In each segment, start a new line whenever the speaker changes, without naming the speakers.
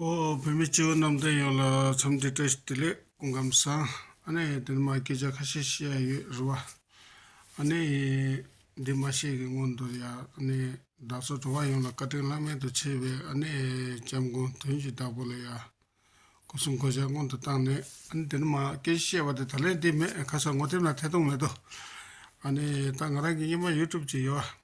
ཨོ་བོད་མི་སྤྱི་བོ་རྣམས་བསྟན་ཡོད་ལ་འཚམས་འདྲི་བཀྲ་ཤིས་བདེ་ལེགས། སྐུ་ཁམས་བཟང། ཨ་ནེ་འདི་ནི་མ་སྐད་ཆ་ཁ་ཤས་བཤད་ཡ་ཡོད་རེད་བ། ཨ་ནེ། འདི་མ་བཤད་གི་སྔོན་དུ་ཡ་ཨ་ནེ། བདག་ཚོ་འགྲོ་བ་ཡོངས་ལ་བཀའ་དྲིན་བླ་མེད་དུ་ཆེ་བའི་ཨ་ནེ་ལྕམ་དགུང་དོན་གྱི་བདག་པོ་ལ་ཡ། སྐུ་གསུང་གོ་ཆ་སྔོན་དུ་བཏང་ནས་ཨ་ནེ་འདི་ནི་མ་སྐད་ཆ་བཤད་བ་དེ་ད་ལན་བདེ་མེད་ཁ་སང་ངོ་དེབ་ན་ཐད་གཏོང་མེད་དོ། ཨ་ནེ། ད་ང་རང་གི་སྙེ་མ་ཡུ་ཀྲུབ་ཅིག་ཡོད་བ།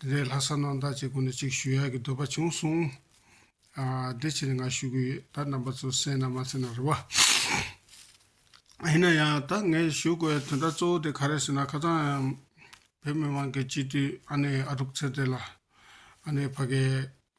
དེ་ལས་ལྷ་ས་ནང་བདག་ཅེས་སྐུ་ན་གཅིག་ཞུ་ཡག་གི་འདོད་པ་བྱུང་གསུང། དེ་ཕྱིར་ང་ཞུ་གི་ཡོད་ད་རྣམ་པ་ཚོ་གསན་ན་མ་གསན་ན་རེ་བ། ཡིན་ན་ཡང་ད་ངས་ཞུ་དགོས་ཡ་དོན་དག་གཙོ་བོ་དེ་ག་རེད་ཟེར་ན་ཁ་ཚང་བོད་མི་མང་གི་སྤྱི་འཐུས་ཨ་ནེ་ཨ་དྲུག་ཚེ་བརྟན་ལ་ཨ་ནེ་ཕ་གའི་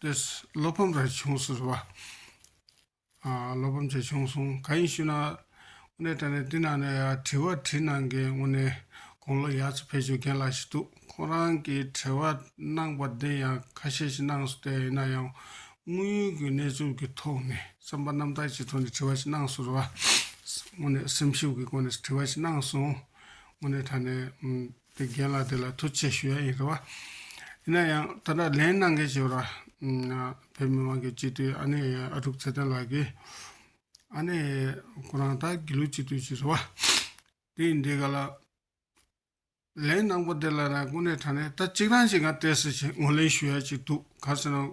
ཏོས། བློ་ཕམ་ར་བྱུང་ཟེར་བ། བློ་ཕམ་ཆེ་བྱུང་གསུངས་ག་ཡིན་ཞུས་ན། དངོས་གནས་དྲན་ནས་དེ་ནང་ནས་ཡ་དྲི་བ་དྲིས་གནང་མཁན་དངོས་གནས་དགུང་ལོ་ཡར་ཚེ་ཕེབས་ཆོས་རྒན་ལགས་ཞིག་འདུག་ཁོང་རང་གིས་དྲི་བ་གནང་པ་འདི་ཡང་ཁ་ཤས་ཤིག་གནང་ཟུར་བསྡད་ཡིན་ན་ཡང་དངོས་ཡོད་ཀྱི་གནས་ཚུལ་གྱི་ཐོག་ནས་བསམ་པ་རྣམ་དག་ཅིག་ཐོག་ནས་དྲི་བ་ཞིག་གནང་ཟུར་བ། དངོས་གནས་སེམས་ཞིབ་ཀྱི་སྒོ་ནས་དྲི་བ་ཞིག་གནང་སོང། དངོས་གནས་དྲན་ནས། དེ་རྒན་ལགས་དེ་ལ་ཐུགས་ཆེ་ཞུ་ཡག་ཡིན་གི་བ། ཡིན་ན་ཡང་ད་ལྟ་ལན་གནང་མཁན་ཞིག་ར། བོད་མི་མང་གི་སྤྱི་འཐུས་ཨ་ནེ་ཨ་ཀྲུག་ཚེ་བརྟན་ལགས་ཀྱིས། ཨ་ནེ། ཁོ་རང་ད་དགེ་ལུགས་སྤྱི་འཐུས་ཤིག་རེད་བ། དེ་ཡིན་དེ་ག་ལ། ལན་གནང་པོ་དེ་ལ་ན་དཀོན་ནས་དྲ་ནས་ད་གཅིག་རང་ཞིག་ང་བལྟས་ཟེར་བཞིན་ངོ་ལེན་ཞུ་ཡག་ཅིག་འདུག་ག་ཟེར་ན།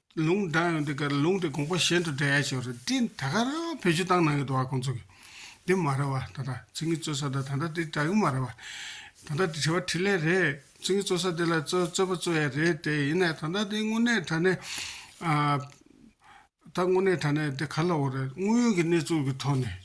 ལུང་བསྒྲགས་ཡོང་དུས་ཀར་ལུང་དེ་དགོངས་པ་གཞན་དུ་འདྲེན་ཡ་ཆེ་བ་རེད་དེ་ད་ག་རང་བོད་སྤྱི་བཏང་གནང་གི་འདུག་བ་ཁོང་ཚོ་གི་དེ་མ་རེད་བ་ད་ད་ཚིག་ངི་རྩོད་ས་དང་ད་ད་དེ་དྲ་གི་མ་རེད་བ་ད་ད་དེ་དྲི་བ་དྲི་ལེ་རེད་ཚིག་ངི་རྩོད་ས་དེ་ལ་རྩོད་རྩོད་པ་རྩོད་ཡ་རེད་དེ་ཡིན་ནའི་ད་ད་དེ་དངོས་གནས་དྲ་གནས་ད་དངོས་གནས་དྲ་གནས་དེ་ག་ལ་འོ་རེད་དངོས་ཡོད་གི་གནས་ཚུལ་གི་ཐོག་ནས།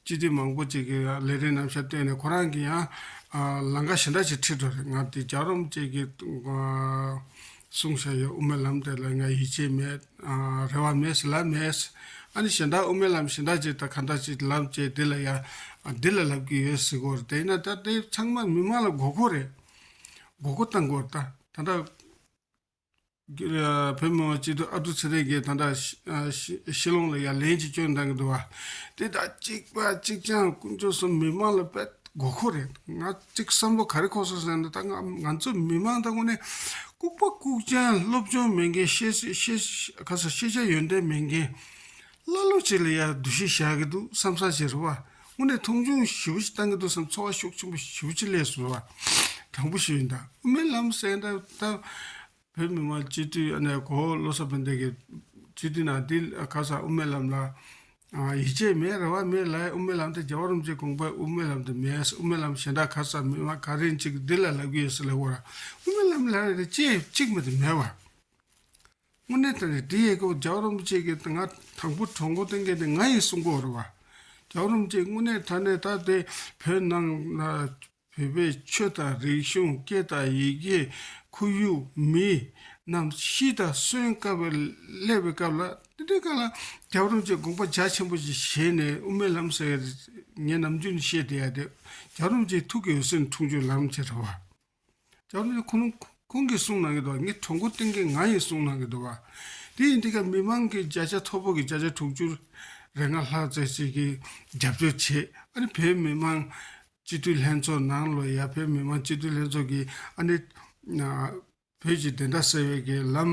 སྤྱི་བདེ་མང་པོ་བཅས་ཀྱི་ལས་རིན་རྣམ་བཤད་བཏོན་ནས་ཁོ་རང་གི་ཡང་ལང་ཀ་ཞེ་འདྲ་ཞིག་ཁྲིད་འགྲོ་རེད་ང་འདི་རྒྱག་རོམ་བཅས་ཀྱི་གསུང་བཤད་ཡོད་དབུ་མའི་ལམ་དེ་ལ་ང་ཡིད་ཆེས་མེད། རེ་བ་མེད་ཟེར་ལབ་མེད། ཨ་ནི་ཞེ་འདྲ་དབུ་མའི་ལམ་ཞེ་འདྲ་ཅིག་དང་གང་འདྲ་ཅིག་ལབ་བཅས་འདི་ལ་ཡང་འདི་ལ་ལབ་ཀྱི་ཡོད་ཟེར་དགོས་རེད་དེ་ཡིན་ན་ད་དེ་ཚང་མ་མི་མང་ལ་དགོས་མཁོ་རེད་དགོས་མཁོ་བཏང་དགོས་རེད་ད་ད། བོད་མི་མང་སྤྱི་འཐུས་ཨ་ཏུ་ཚེ་རིང་གིས་ད་ལྟ་ཤི་ལོངས་ལ་ཡ་ལན་གྱི་སྐྱོན་འདང་གི་འདུག་བ། དེ་ལྟར་གཅིག་པ་གཅིག་རྐྱང་དཀོན་མཆོག་གསུམ་མི་མང་ལ་དཔེ་དགོས་མཁོ་རེད་འདུག་ང་གཅིག་བསམ་བློ་ག་རེ་ཁོག་སོང་ཟེར་ན་ད་སྔ་ང་ཚོ་མི་མང་དང་ངོ་ནས་ལྐུག་པ་ལྐུག་རྐྱང་སློབ་སྦྱོང་མེད་མཁན་ཤེས་བྱ་ཡོན་ཏན་མེད་མཁན། ཀླ་ཀློ་གཅིག་ལ་ཡང་བསྡུ་བཞེས་བྱ་གི་འདུག་བསམ་བསམ་བྱས་རེ་བ། དངོས་གནས་མཐོང་ཆུང་ཞི་བ་ཅིག་བཏང་གི་འདུག་བསམ་ཚོར་བ་ཤུགས་ཆེན་པོ་ཞི་བ་ཅིག་སླེབས་སོང་བ། དྲང་པོ་ཞུས་ཡིན་དཱ། དབུ་མའི་ལམ་གསལ་འདེབས་སྟབས། བོད་མི་མང་སྤྱི་འཐུས་ཨ་ནེ་གོ་བློ་བཟང་བོན་བསྟན་གྱིས། སྤྱི་འཐུས་ནང་འདི་ག་ཚང་དབུ་མའི་ལམ་ལ་ཡིད་ཆེས་མེད་རེ་བ་མེད་ལ་དབུ་མའི་ལམ་དེ་རྒྱ་བོད་རིམ་བྱོན་གོང་པའི་དབུ་མའི་ལམ་དུ་མེད་དབུ་མའི་ལམ་གཞན་དག་ག་ཚང་མི་མང་ག་རེ་འཇིག་འདི་ལ་ལབ་གི་ཡོད་ས་ལེ་བོ་ར་དབུ་མའི་ལམ་ལ་རེ་ཅེས་གཅིག་མེད་དུ་མེད་བ། དངོས་གནས་དེ་རེད་དེ་ཡི་གོ་རྒྱ་རོམ་བཅས་ཀྱི་ད་ང་དང་པོ་གྲོགས་མགོ་སྟེང་གི་ནི་ང་ཡི་སྲུང་འཁོར་བ། རྒྱ་རོམ་བཅས་དངོས་གནས་ད་ནི་ད་དེ་བོད་ནང་ན་བོད་པའི་ཆོས་དང་རིག་གཞུང་སྐད་དང་ཡི་གེ་ཁོར་ཡུག་མི་རྣམས་ཤི་དང་གསོན་དཀའ་བའི་སླེ་བའི་སྐབས་ལ་དེ་འདྲའི་སྐབས་ལ་རྒྱ་རོམ་བཅས་དགོངས་པ་རྒྱ་ཆེན་པོ་ཞིག་བཞེས་ནས་དབུ་མའི་ལམ་ཟེར་བ་དེ་ངས་ནམ་རྒྱུན་བཤད་བསྡད་ཡ་དེ་རྒྱ་རོམ་བཅས་ཐུགས་ཀྱི་འོད་ཟེར་འཁྲུངས་རྒྱུ་ལམ་བྱེད་ར་བ། ལྕགས་རི་ཁོང་ཁོང་གིས་གསུངས་གནང་གི་འདུག་ངས་གྲོགས་མགོ་བཏིང་མཁན་ང་ཡིན་གསུངས་གནང་གི་འདུག་དེ་ཡིན་དུས་ཀྱང་མི་མང་གི་བརྒྱ་ཆ་མཐོ་པོ་གི་བརྒྱ་ཆ་དྲུག་ཅུར་རེ་ལྔ་ལྷག་བརྩེ་གཅིག་གིས་རྒྱབ་སྐྱོར་བྱེད་ཨ་ནི་བོད་མི་མང་སྤྱི་འཐུས་ལྷན་ཚོགས་ནང་ལོ་ཡ་བོད་མི་མང་སྤྱི་འཐུས་ལྷན་ཚོགས་ཀྱིས་ཨ་ནི། བོད་ཀྱི་བདེན་མཐའ་གསལ་བའི་ལམ་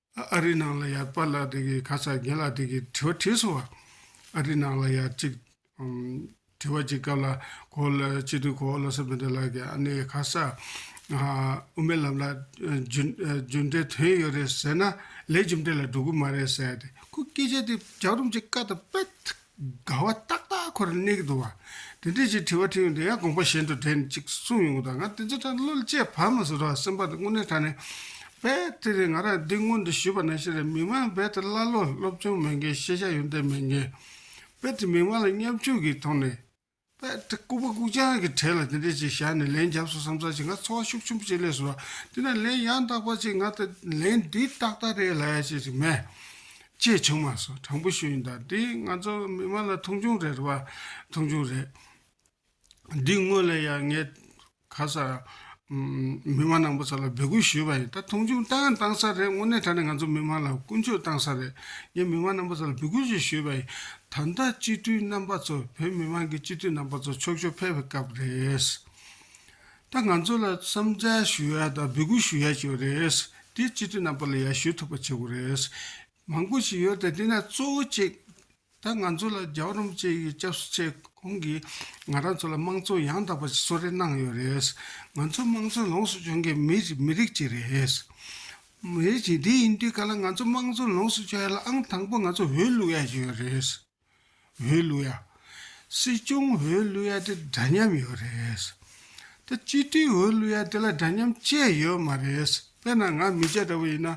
ཨ་རིའི་ནང་ལ་ཡར་པར་ལ་དེ་གི་ཁ་ཚ་དགེ་ལ་དེ་གི་དྲི་བ་དྲིས་སོང་བ། ཨ་རིའི་ནང་ལ་ཡར་ཅིག་དྲི་བ་ཅིག་སྐབས་ལ་གོ་ལ་སྤྱི་འཐུས་གོ་ལོ་སི་བྷི་ཏེ་ལགས་ཀྱིས་ཨ་ནེ་ཁ་ས་དབུ་མའི་ལམ་ལ་རྒྱུ་འབྲས་དོན་ཡོད་རེད་ཟེར་ན་ལས་རྒྱུ་འབྲས་ལ་འགྲོ་གི་མ་རེད་ཟེར་ཏེ་ཁོ་སྐད་ཆ་དེ་རྒྱག་རུང་ཅིག་བཀའ་དང་པད་དགའ་བ་ཏག་ཏག་ཁོ་ར་གནས་ཀྱི་འདུག་བ། དེ་འདྲས་ཀྱི་དྲི་བ་དྲིས་ཡོང་དུས་ཡང་དགོངས་པ་གཞན་དུ་དྲན་ཅིག་གསུངས་ཡོང་གི་འདུག་ང་དེ་ཚོ་དྲན་བློ་བསྐྱེད་བར་མ་ཟོས་རོགས་ཨ་སེམས་པ་དེ་དངོས་གནས་དྲན་ནས། བེ། དེ་རེད་ང་རང་འདི་སྔོན་དུ་ཞུས་པ་ནང་བཞིན་རེད་མི་མང་བེ་དེ་ཀླ་ཀློ་སློབ་སྦྱོང་མེད་མཁན་ཤེས་བྱ་ཡོན་ཏན་མེད་མཁན། བེ་དེ་མི་མང་ལ་མཉམ་ཆུང་གིས་མཐོང་ནས། པདྨ་སྐུ་པོ་ཀུན་སྦྱངས་ཀྱི་གྲལ་ལ་དེ་འདྲས་ཅིག་བཞག་ནས་ལན་བརྒྱབས་སོ་བསམ་ཚར་ཞིག་ང་འཚོ་བ་ཤུགས་ཆེན་པོ་ཅིག་ལས་སོ། དེ་ན་ལན་ཡང་དག་པ་ཅིག་ང་ལྟ་ལན་འདི་ཏག་ཏག་རེད་ལ་ཅེས་ཅིག་སྨྲས། ཅེས་བྱུང་མ་སོང་དྲང་པོ་ཞུ་ཡིན་ད་འདི་ང་ཚོ་མི་མང་ལ་མཐོང་ཆུང་རེད་བ་མཐོང་ཆུང་རེད། འདི་དངོས་ལ་ཡང་ངས། ཁ་ས། མི་མང་ནང་པ་ཚོ་ལ་འབོད་སྐུལ་ཞུས་པ་ཡིན་ད་མཐོང་ཆུང་བཏང་ཡང་བཏང་ས་རེད་དངོས་གནས་ད་ནི་ང་ཚོ་མི་མང་ལ་ཀུན་སྤྱོད་བཏང་ས་རེད་ངས་མི་མང་ནང་པ་ཚོ་ལ་འབོད་སྐུལ་ཞིག་ཞུས་པ་ཡིན་ད་ལྟ་སྤྱི་འཐུས་རྣམ་པ་ཚོ་བོད་མི་མང་གི་སྤྱི་འཐུས་རྣམ་པ་ཚོ་ཕྱོགས་ཕྱོགས་ཕེབས་པའི་སྐབས་རེད། ད་ང་ཚོ་ལ་བསམ་འཆར་ཞུ་ཡ་དང་འབོད་སྐུལ་ཞུ་ཡ་བྱེད་པ་རེད་དེ་སྤྱི་འཐུས་རྣམ་པ་ལ་ཡར་ཞུ་ཐུབ་པ་བྱེད་དགོས་རེད། མང་པོ་ཞིག་ཡོད་དེ་དེ་ནས་གཙོ་བོ་གཅིག་ད་ང་ཚོ་ལ་རྒྱ་རོམ་བཅས་ཀྱི་སྐྱབས་སུ་ཆས་གོང་གིས་ང་རང་ཚོ་ལ་དམངས་གཙོ་ཡང་དག་པ་ཞིག་གསོལ་རས་གནང་ཡོད་རེད། ང་ཚོ་དམངས་གཙོ་ལོངས་སུ་སྤྱོད་མཁན་མི་མི་རིགས་གཅིག་རེད། མི་རིགས་གཅིག་དེ་ཡིན་དུས་ག་ལ་ང་ཚོ་དམངས་གཙོ་ལོངས་སུ་སྤྱོད་ཡ་ལ་ཨང་དང་པོ་ང་ཚོ་འོས་བླུགས་ཡ་ཡོད་རེད། འོས་བླུ་ཡ། སྲིད་སྐྱོང་འོས་བླུ་ཡ་དེ་འདྲ་མཉམ་ཡོད་རེད། ད་སྤྱི་འཐུས་འོས་བླུ་ཡ་དེ་ལ་འདྲ་མཉམ་བཅས་ཡོད་མ་རེད། དཔེར་ན་ང་མི་སྤྱད་འདྲ་བོ་ཡིན་ན།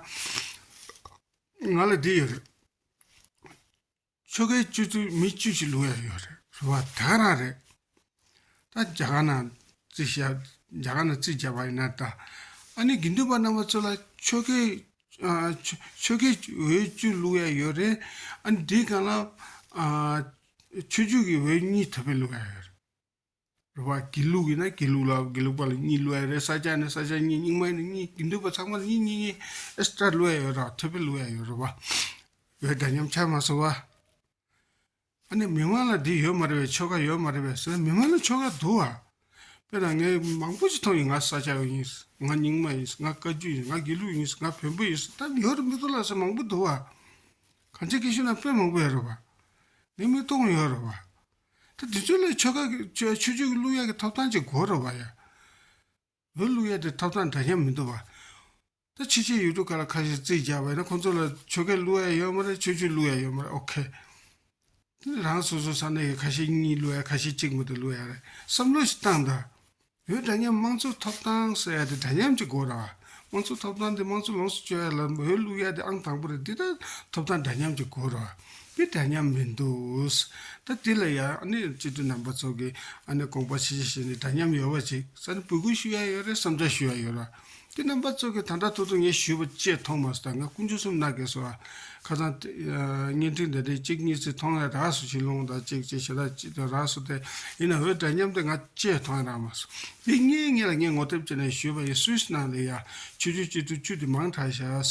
ང་ལ་འདི་ཡོད་རེད། ཆོལ་ཁའི་སྤྱོད་ཚུལ་མི་སྤྱོད་ཅིག་བླུ་ཡ་ཡོད་རེད་ཟེར་བ་དག་རང་རེད། ད་རྒྱ་གར་ན་རྩིས་བྱ། རྒྱ་གར་ན་རྩིས་བྱ་བ་ཡིན་ན་ད། ཨ་ནི་དགེ་འདུན་པ་རྣམས་པ་ཚོ་ལ་ཆོས་ཁས། ཆོས་ཁས་འོས་བཅུ་བླུག་ཡ་ཡོད་རེད། ཨ་ནི་དེའི་སྒང་ལ། ཆོས་བཅུ་གི་འོས་གཉིས་དེ་བས་བླུག་ཡ་ཡོད་རེད། རེད་པ། དགེ་ལུགས་ཡིན་ན་དགེ་ལུགས་ལ་དགེ་ལུགས་པ་ལ་གཉིས་བླུག་ཡ་རེད་ས་སྐྱ་ཡིན་ན་ས་སྐྱ་གཉིས་རྙིང་མ་ཡིན་ན་གཉིས་དགེ་འདུན་པ་ཚང་མ་ལ་གཉིས་གཉིས་གཉིས extra བླུག་ཡ་ཡོད་རེད་དེ་བས་བླུག་ཡ་ཡོད་རེད་པ། འོས་འདྲ་མཉམ་ཆགས་མ་སོང་བ། ཨ་ནི་མི་མངོན་ལ་འདི་ཡོད་མ་རེད་བས་ཆོལ་ཁ་ཡོད་མ་རེད་བས་ཟེར་མི་མངོན་ལ་ཆོལ་ཁ་འདུག་ཨ། དཔེར་ན་ངས་མང་པོ་ཞིག་མཐོང་ཡིན་ང་ས་སྐྱ་ཡིན། ང་རྙིང་མ་ཡིན། ང་བཀའ་བརྒྱུད་ཡིན་ང་དགེ་ལུགས་ཡིན་ང་བོན་པོ་ཡིན་ད་ཉི་ཧོར་མི་གཏོང་ལ་ཟེར་མང་པོ་འདུག་ཨ། གང་ཅིའི་སྐད་ཤོད་ན་དཔེ་མང་པོ་ཡོད་རེད་བ། ངས་མི་གཏོང་ཡོད་རེད་བ། ད་འདི་ཚོའི་ལས་ཆོལ་ཁ་གི་ཆོས་ཆོས་ཀྱི་གླུ་དབྱངས་ཀྱི་ཐོབ་ཐང་ཅིག་དགོས་རེད་བ་ཡ། བོད་ལུགས་ཡ་དེ་ཐོབ་ཐང་འདྲ་མཉམ་མི་འདུག་བ། ད་ཕྱི་ཕྱི་ཡུལ་གྲུ་ག་ལ་ཁ་ཤས་རྩིས་རྒྱག་པ་ཡིན་ན་ཁོང་ཚོ་ལ་ཆོལ་ཁའི་གླུ་ཡ་ཡོད་མ་རེད་ཆོས་བརྒྱུད་གླུ་ཡ་ཡོད་མ་རེད་ཨོ་ཁེ། རང་སོ་སོ་ས་གནས་ཀྱི་ཁ་ཤས་གཉིས་གླུ་ཡ་ཁ་ཤས་གཅིག་མི་འདུག་གླུ་ཡ་རེད་བསམ་བློ་ཞིག་བཏང་དང། བོད་འདྲ་མཉམ་དམངས་གཙོ་ཐོབ་ཐང་ཟེར་ཡ་དེ་འདྲ་མཉམ་གྱི་སྒོ་ར། དམངས་གཙོ་ཐོབ་ཐང་དེ་དམངས་གཙོ་ལོངས་སུ་སྤྱོད་ཡ་ལ་བོད་ལུགས་ཡ་དེ་ཨང་དང་པོ་རེད་འདི་ད་ཐོབ་ཐང་འདྲ་མཉམ་གྱི་སྒོ་ར། དེ་འདྲ་མཉམ་མི་འདུག། ད་དེ་ལ་ཡང་ཨ་ནི་སྤྱི་འཐུས་རྣམ་པ་ཚོ་གི་ཨ་ནི་དགོངས་པ་ཇི་བཞིན་ནི་འདྲ་མཉམ་ཡོད་པ་ཅིག་ས་ནི་འབོད་སྐུལ་ཞུ་ཡ་ཡོད་རེད་བསམ་འཆར་ཞུ་ཡ་ཡོད་ར། དེ་རྣམ་པ་ཚོ་གི་ད་འདྲ་ཐུག་ཐུག་ངས་ཞུས་པ་བཅས་མཐོང་མ་སོ་ད་ང་སྐུ་མཆོད་གསུམ་ན་གས་སོ་ཨ། ཁ་སང། བརྙན་འཕྲིན་དེ་འདྲས་གཅིག་གཉིས་ཚིག་མཐོང་ཡ་རགས་སོ་ཞིག་ལོང་ད་ཅིག་ཅིག་ཞེ་དྲག་ཅིག་ཏུ་རགས་སོ་དེ་ཡིན་ན་འོས་འདྲ་མཉམ་དེ་ང་བཅས་མཐོང་ཡ་རགས་མ་སོ། དེ་སྔའི་ངེད་ལ་ངས་ངོ་དེབ་བཅས་ནས་ཞུས་པ་ཡིན་སུས་ནང་ལས་ཡ། ཆོས་རྒྱུད་སྤྱི་འཐུས་བཅུ་དེ་མང་དྲགས་ཤགས།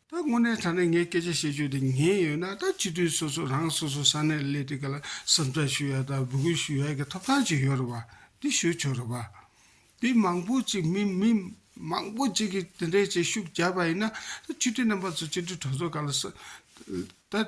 ད་དངོས་གནས་ཐ་ན་ངས་སྐད་ཆ་བཤད་རྒྱུ་དེ་ཉན་ཡོད་ན་ད་སྤྱི་འཐུས་སོ་སོ་རང་སོ་སོ་ས་གནས་ལ་སླེབས་ཏེ་ག་ལ་བསམ་ཚགས་ཞུ་ཡ་དང་འབོད་སྐུལ་ཞུ་ཡ་གི་ཐོབ་ཐང་ཅིག་ཡོད་རེད་པ་དེ་ཞུ་ཆོག་རེད་པ། དེ་མང་པོ་ཅིག་མི་མི་མང་པོ་ཅིག་གིས་དེ་འདྲའི་བྱེད་ཤུགས་བརྒྱབ་པ་ཡིན་ན་ད་སྤྱི་འཐུས་རྣམ་པ་ཚོ་སྤྱི་འཐུས་གྲོགས་ཚོ་ག་ལ་བསམ།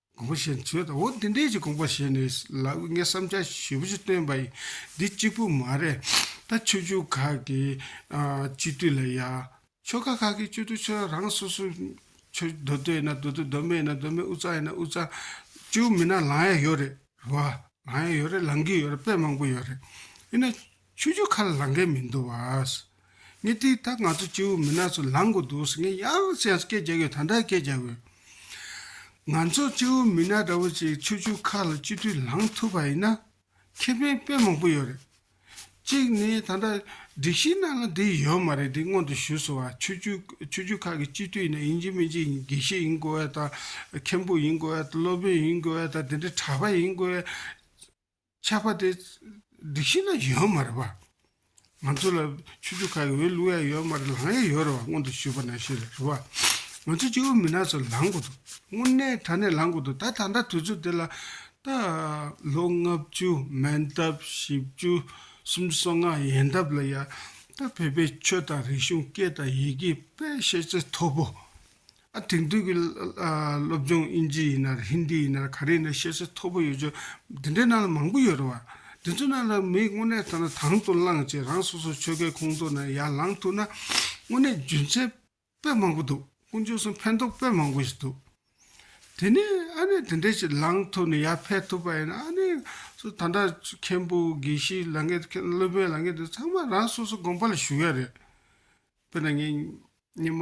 དགོངས་པ་བཞིན་བྱོས་དང་འོ་འདི་འདྲས་ཀྱི་དགོངས་པ་བཞེས་ནས་ལ་དབུས་ངས་བསམ་འཆར་ཞིབ་པོ་ཞིག་བཏོན་པ་ཡིན། འདི་གཅིག་པུ་མ་རེད། ད་ཆོས་ཕྱུག་ཁག་གི་སྤྱི་འཐུས་ལ་ཡང། ཆོལ་ཁ་ཁག་གི་སྤྱི་འཐུས་ཚོས་རང་སོ་སོའི། ཆོས་སྡོད་སྡོད་ཡིན་ན་སྡོད་དོ་སྡོད་མེད་ཡིན་ན་སྡོད་མེད་དབུས་གཙང་ཡིན་ན་དབུས་གཙང། ཅུའུ་མིན་ན་ལངས་ཡ་ཡོད་རེད། རེད་བ། ལངས་ཡ་ཡོད་རེད་ལངས་ཀྱི་ཡོད་རེད་དཔེ་མང་པོ་ཡོད་རེད། ཡིན་ན། ཆུ་ཆུ་ཁ་ལ་ལང་མཁན་མི་འདུག་བ། ངས་དེ་ད་ང་ཚོ་སྐྱེ་བོ་མི་ནག་ཚོ་ལང་དགོས་འདུག་ངས་ཡང་བསྐྱར་སྐད་རྒྱག་གི་ཡོད་ད་ལྟ་སྐད་རྒྱག་གི། ང་ཚོ་སྐྱེ་བོ་མི་ནག་འདྲ་བོ་ཅིག་ཆུ་ཆུ་ཁ་ལ་སྤྱི་འཐུས་ལང་ཐུབ་པ་ཡིན་ན། ཁེ་ཕན་དཔེ་མང་པོ་ཡོད་རེད། གཅིག་ནི་ད་ལྟ་སྒྲིག་གཞི་ནང་ལ་འདི་ཡོད་མ་རེད་འདི་སྔོན་དུ་ཞུས་སོང་བ་ཆུ་ཆུ་ཆུ་ཆུ་ཁ་གི་སྤྱི་འཐུས་ཡིན་ན་ཡིན་གཅིག་མིན་གཅིག་དགེ་བཤེས་ཡིན་དགོས་བ་དང་མཁན་པོ་ཡིན་དགོས་བ་དང་སློབ་དཔོན་ཡིན་དགོས་བ་དང་དེ་འདྲའི་གྲྭ་པ་ཡིན་དགོས་བ། ཆགས་པ་དེ་སྒྲིག་གཞི་ན་ཡོད་མ་རེད་པ། ང་ཚོ་ལ་ཆུ་ཆུ་ཁ་ཡོད་གླུ་ཡ་ཡོད་མ་རེད་ལང་ཡ་ཡོད་རེད་པ་སྔོན་དུ་ཞུས་པ་ན་ཤེས་རེད་བ། ང་ཚོ་སྤྱི་བོ་མི་ནག་ཚོ་ལང་དགོས་འདུག་དངོས་གནས་དྲ་གནས་ལང་དགོས་འདུག་ད་ད་ལྟ་དུས་ཚོད་དེ་ལ་ད་ལོ་ལྔ་བཅུ་མན་ཐབས་བཞི་བཅུ་གསུམ་སོ་ལྔ་ཡན་ཐབས་ལ་ཡ་ད་བོད་པའི་ཆོས་དང་རིག་གཞུང་སྐད་དང་ཡི་གེ་དཔེ་ཤེས་ཚད་མཐོ་པོ་དེང་དུས་ཀྱི་སློབ་སྦྱོང་དབྱིན་ཇི་ཡིན་ནར་ཧིན་དི་ཡིན་ནར་ག་རེ་ཡིན་ནར་ཤེས་ཚད་མཐོ་པོ་ཡོད་ཆོག་འདི་འདྲའི་ནང་ལ་མང་པོ་ཡོད་རེད་བ། དེ་ཚོའི་ནང་ལ་མིས་དངོས་གནས་ཐ་ན་དང་དུ་བླངས་ཅིག་རང་སོ་སོའི་ཆོལ་ཁའི་ཁོངས་གཏོགས་ནང་ཡར་ལངས་ཐུབ་ན། དངོས་གནས་རྒྱུ་མཚན་དཔེ་མང་པོ་འདུག་ཀུན་སྤྱོད་གསུམ་ཕན་ཐོགས་དཔེ་མང་པོ་ཞིག་འདུག། དེ་ནས་ཨ་ནེ་དེ་འདྲས་ཅིག་ལངས་ཐུབ་ནས་ཡར་འཕེལ་ཐུབ་པ་ཡིན་ན་ཨ་ནེ་སུ་ད་འདྲ་མཁན་པོ་དགེ་བཤེས་ལ་ངས་མཁན་སློབ་དཔོན་ལ་ངས་འདི་ཚང་མ་རང་སོ་སོ་དགོངས་པ་ལ་ཞུགས་ཡ་རེད། དཔེར་ན་ངས་སྙེ་མ་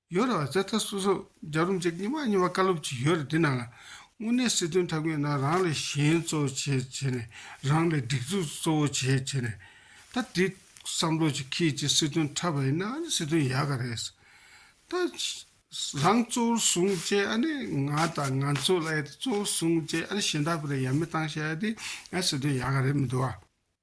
ཡོད་རེད་བ་ཚེ་ཐར་སོ་སོ་རྒྱ་རུ་འཇག་ཉི་མ་གཉིས་པ་བཀའ་སློབ་ཅིག་ཡོད་རེད་འདི་ནང་ལ་དངོས་གནས་སྲིད་དོན་ཐབས་མཁས་ན་རང་ལས་གཞན་གཙོ་བྱས་བྱས་ནས་རང་ལས་སྒྲིག་འཛུགས་གཙོ་བོ་བྱས་བྱས་ནས་ད་འདི་བསམ་བློ་ཅིག་ཁྱེད་ཀྱིས་སྲིད་དོན་འཁྲབ་པ་ཡིན་ན་ཨ་ནི་སྲིད་དོན་ཡག་ག་རེད། ད་རང་གཙོ་བོར་བཟུང་བཅས་ཨ་ནི་ང་དང་ང་ཚོ་ལ་ཡ་དེ་གཙོ་བོར་བཟུང་བཅས་ཨ་ནི་གཞན་དག་པོ་རེ་ཡ་མི་བཏང་བྱས་ཨ་དེ་ཨ་སྲིད་དོན་ཡག་ག་རེད་མི་འདུག་བ།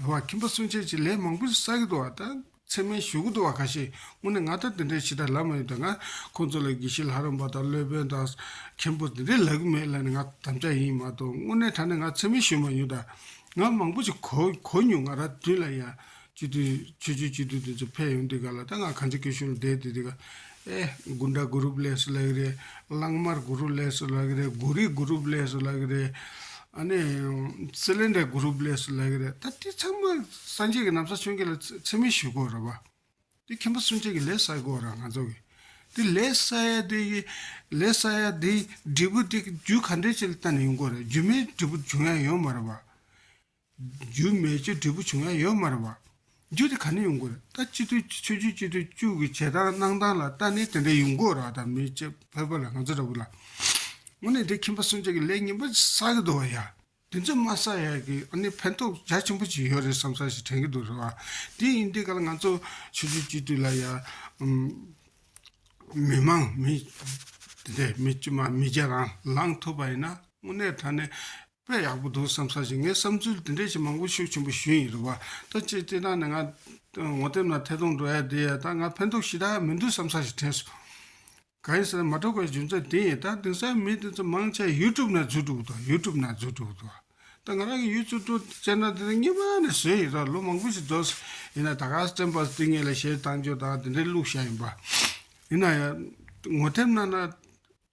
རེ་བ་ཁྱིམ་པ་གསུམ་ཆ་གཅིག་ལས་མང་པོ་ཞིག་བསགས་ཀྱི་འདུག་བ་དང་མཚན་མའི་ཞུ་གི་འདུག་བ་ག་ཤེད་སྔོན་ནས་ང་ལྟར་འདི་འདྲའི་ཕྱི་དར་ལབ་མ་ཡོང་དུས་ང་ཁོང་ཚོ་ལ་དགེ་བཤེས་ལྷ་རམས་པ་དང་སློད་དཔོན་དང། མཁན་པོ་འདི་འདྲའི་ལབ་གི་མེད་ལབ་ནས་ང་དམ་བཅའ་ཡིན་མ་གཏོགས་དངོས་གནས་ད་ནི་ང་མཚན་མའི་ཞུ་མ་ཡོང་དང་ང་མང་པོ་ཞིག་གོ་གོ་མྱོང་ང་ར་དུས་ལ་ཡང། སྤྱི་འཐུས་ཆོས་ཆོས་སྤྱི་འཐུས་འདི་ཚོ་ཕེབས་ཡོང་དུས་ག་ལ་དང་ང་གང་ཅི་སྐད་ཤོད་ལ་བསྡད་དུས་དེ་ག་ཨེ། དགུན་དགྲ་དགུ་རུབ་ལས་སུ་ལ་གི་རེད། གླང་དམར་དགུ་རུབ་ལས་སུ་ལ་གི་རེད། དགུ་རིགས་དགུ་རུབ་ལས་སུ་ལ་གི་རེད། ཨ་ནི། སི་ལེ་འདྲ་དགུ་རུབ་ལས་སུ་ལ་གི་རེད། ད་དེ་ཚང་མ་སངས་རྒྱས་ཀྱི་ནམ་ས་ཆོས་འཁྱིལ་ལ་ཚིམ་མིན་ཞུས་དགོས་ར་བ། དེ་མཁན་པོ་གསུང་ཆེན་གྱི་ལས་བསགས་དགོས་ར་ང་ཚོ་གི། དེ་ལས་བསགས་ཡ་དེ་གི། ལས་བསགས་ཡ་དེ་འབྲས་བུ་དེ་རྒྱུ་ག་འདྲས་ཅིག་ལ་ལྟ་ནས་ཡོང་དགོས་ར་རྒྱུ་མེད་འབྲས་བུ་འབྱུང་ཡ་ཡོད་མ་ར་བ། རྒྱུ་མེད་ཆོས་འབྲས་བུ་བྱུང་ཡང་ཡོད་མ་རེད་བ། རྒྱུ་དེ་ག་ནས་ཡོང་དགོས་རེད་ད་སྤྱི་འཐུས་ཀྱི་ཆོས་བརྒྱུད་སྤྱི་འཐུས་བཅུ་གི་བྱེད་སྟངས་གནང་སྟངས་ལ་ལྟ་ནས་དེ་འདྲ་ཡོང་དགོས་ར་ད་མི་བྱེད་ཕོད་པ་ལ་ང་ཚོ་འདྲ་བོ་ལ། དངོས་གནས་དེ་ཁྱིམ་པ་སུན་ཅག་གི་ལས་ངན་པ་བསགས་ཀྱི་འདུག་བ་ཡ། དེ་ཚོ་མ་བསགས་ཡ་གི་ཨ་ནི་ཕན་ཐོགས་རྒྱ་ཆེན་པོ་ཅིག་ཡོད་རེད་བསམ་ས་ཞིག་དྲན་གྱི་འདུག་རེད་བ། དེ་ཡིན་དེ་ག་ལ་ང་ཚོ་ཆོས་བརྒྱུད་སྤྱི་འཐུས་ལ་ཡ། མི་མང་མི་དེ་འདྲས་མི་དཀྱུས་མ་མི་བརྒྱ་རང་ལངས་ཐུབ་པ་ཡིན་ན་དངོས་གནས་ད་ནི། དཔེ་ཡག་པོ་འདུག་བསམ་ས་ཞིག་ངས་བསམ་ཚུལ་འདི་འདྲས་ཞིག་མང་པོ་ཤོད་ཆེན་པོ་ཞུས་ཡིན་རེད་བ་ད་ཅེ་ཅེ་ན་ནི་ང་ངོ་དེབ་ན་ཐད་གཏོང་འགྲོ་ཡ་འདི་ཡ་ད་ང་ཕན་ཐོག་ཞིག་ད་ཧ་མི་འདུག་བསམ་ས་ཞིག་དྲན་སོང། གང་ཡིན་ཟེར་ན་མ་གྲོགས་པའི་རྒྱུ་མཚན་དེ་ཡིན་ད་དེང་སང་མི་དེ་ཚོ་མང་ཆེ་ཡུལ་ཀྲུབ་ན་འཛུལ་འགྲོ་གི་འདུག་ཡུལ་ཀྲུབ་ན་འཛུལ་འགྲོ་གི་འདུག་བ་ད་ང་རང་གི་ཡུལ་ཚུལ་ཀྲུབ་ཅེ་ན་དེ་གཉིས་པ་ནས་བཟོས་ཡིན་ར་ལོ་མང་པོ་ཞིག་འགྲོ་ཟེར་ཡིན་ན་ད་ག་ས་བཙན་པ་ཟེར་དུས་ངེད་ལ་ཞལ་གདངས་སྦྱོར་དང་དེ་འདྲས་བླུགས་བཞག་ཡིན་པ། ཡིན་ན་ཡང་ངོ་དེབ་ན་ན།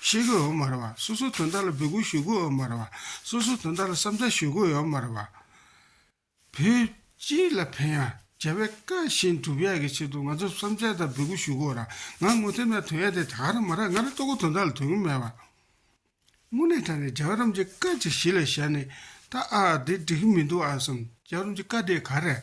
ཤེས་དགོས་ཡོད་མ་རེད་བ། སོ་སོའི་དོན་དག་ལ་འབོད་སྐུལ་ཞུ་དགོས་ཡོད་མ་རེད་བ། སོ་སོའི་དོན་དག་ལ་བསམ་འཆར་ཞུ་དགོས་ཡོད་མ་རེད་བ། བོད་སྤྱི་ལ་ཕན་ཡང་རྒྱལ་བའི་བཀའ་བཞིན་སྒྲུབ་ཡག་གི་ཆེད་དུ་ང་ཚོས་བསམ་འཆར་དང་འབོད་སྐུལ་ཞུ་དགོས་ར། ང་དངོས་ཐེམ་ཡང་དོན་ཡག་དེ་དག་རེད་མ་རེད་ང་རང་ལྟོ་གོས་དོན་དག་ལ་དོན་གྱི་མེད་བ། དངོས་གནས་དྲ་ནས་རྒྱ་རོམ་གྱི་བཀའ་ཅིག་གཞི་ལ་བཞག་ནས་ད་ཨ་ཨ་འདི་འགྲིག་གི་མི་འདུག་ཨ་བསམ་རྒྱ་རོམ་གྱི་བཀའ་དེ་ག་རེད།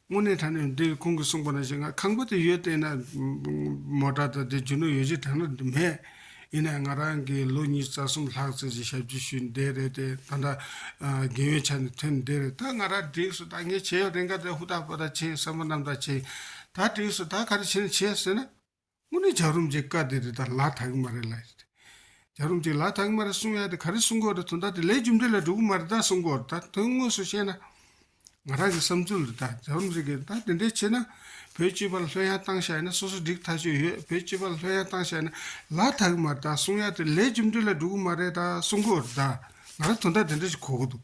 དངོས་གནས་དྲ་ནས་འདིར་ཁོང་གིས་གསུངས་པ་ན་ཞིག་ང་ཁང་པ་དེ་ཡོད་བལྟས་ན། མོ་དྲ་དང་དེ་གྱོན་ནོ་ཡོད་ཅིག་དྲ་ན་འདི་མེད། ཡིན་ནའི་ང་རང་གིས་ལོ་གཉིས་རྩ་གསུམ་ལྷག་ཙེ་ཅིག་ཞབས་ཕྱི་ཞུས་འདས་རེད་དེ་ད་ལྟ། རྒན་ཡོལ་ཆགས་ནས་ཐོན་འདས་རེད་ད་ང་རང་བསྒྲིགས་སོ་ད་ངས་བྱས་ཡོད་རེད་འགའ་རེ་ཧུར་ཐག་པོ་ད་བྱས་ཡོད་བསམ་པ་རྣམས་ད་བྱས་ཡོད་ད་བསྒྲིགས་སོ་ད་ག་རེ་བྱས་ནས་བྱས་ཟེར་ན། དངོས་གནས་བྱ་རུམ་གྱི་བཀའ་དེ་རི་དྭགས་ལག་ཐག་གི་མ་རེད་ལ། བྱ་རུམ་གྱི་ལག་ཐག་གི་མ་རེད་གསུང་ཡ་དེ་ག་རེ་གསུང་དགོས་རེད་དོན་དག་དེ་ལས་རྒྱུ་འབྲས་ལ་འགྲོ་གི་མ་རེད་ད་གསུང་དགོས་རེད་ད་དོན་དངོས་སུ་བཤད་ན། ང་རང་གི་བསམ་ཚུལ་རེད་ད་བྱ་རུམ་ཟེར་གི་ད་དེ་འདྲས་བྱེད་ན། བོད་སྤྱི་པ་ལ་ལྷོད་ཡང་བཏང་བཞག་ཡིན་ན་སོ་སོ་འགྲིག་ཐག་ཆོད་ཡོད་བོད་སྤྱི་པ་ལ་ལྷོད་ཡང་བཏང་བཞག་ཡིན་ན་ལག་ཐག་གི་མ་རེད་ད་གསུང་ཡ་དེ་ལས་རྒྱུ་འབྲས་ལ་འགྲོ་གི་མ་རེད་ད་གསུང་དགོས་རེད་ད་ང་རང་དོན་དག་དེ་འདྲས་བྱེད་གོ་གི་འདུག།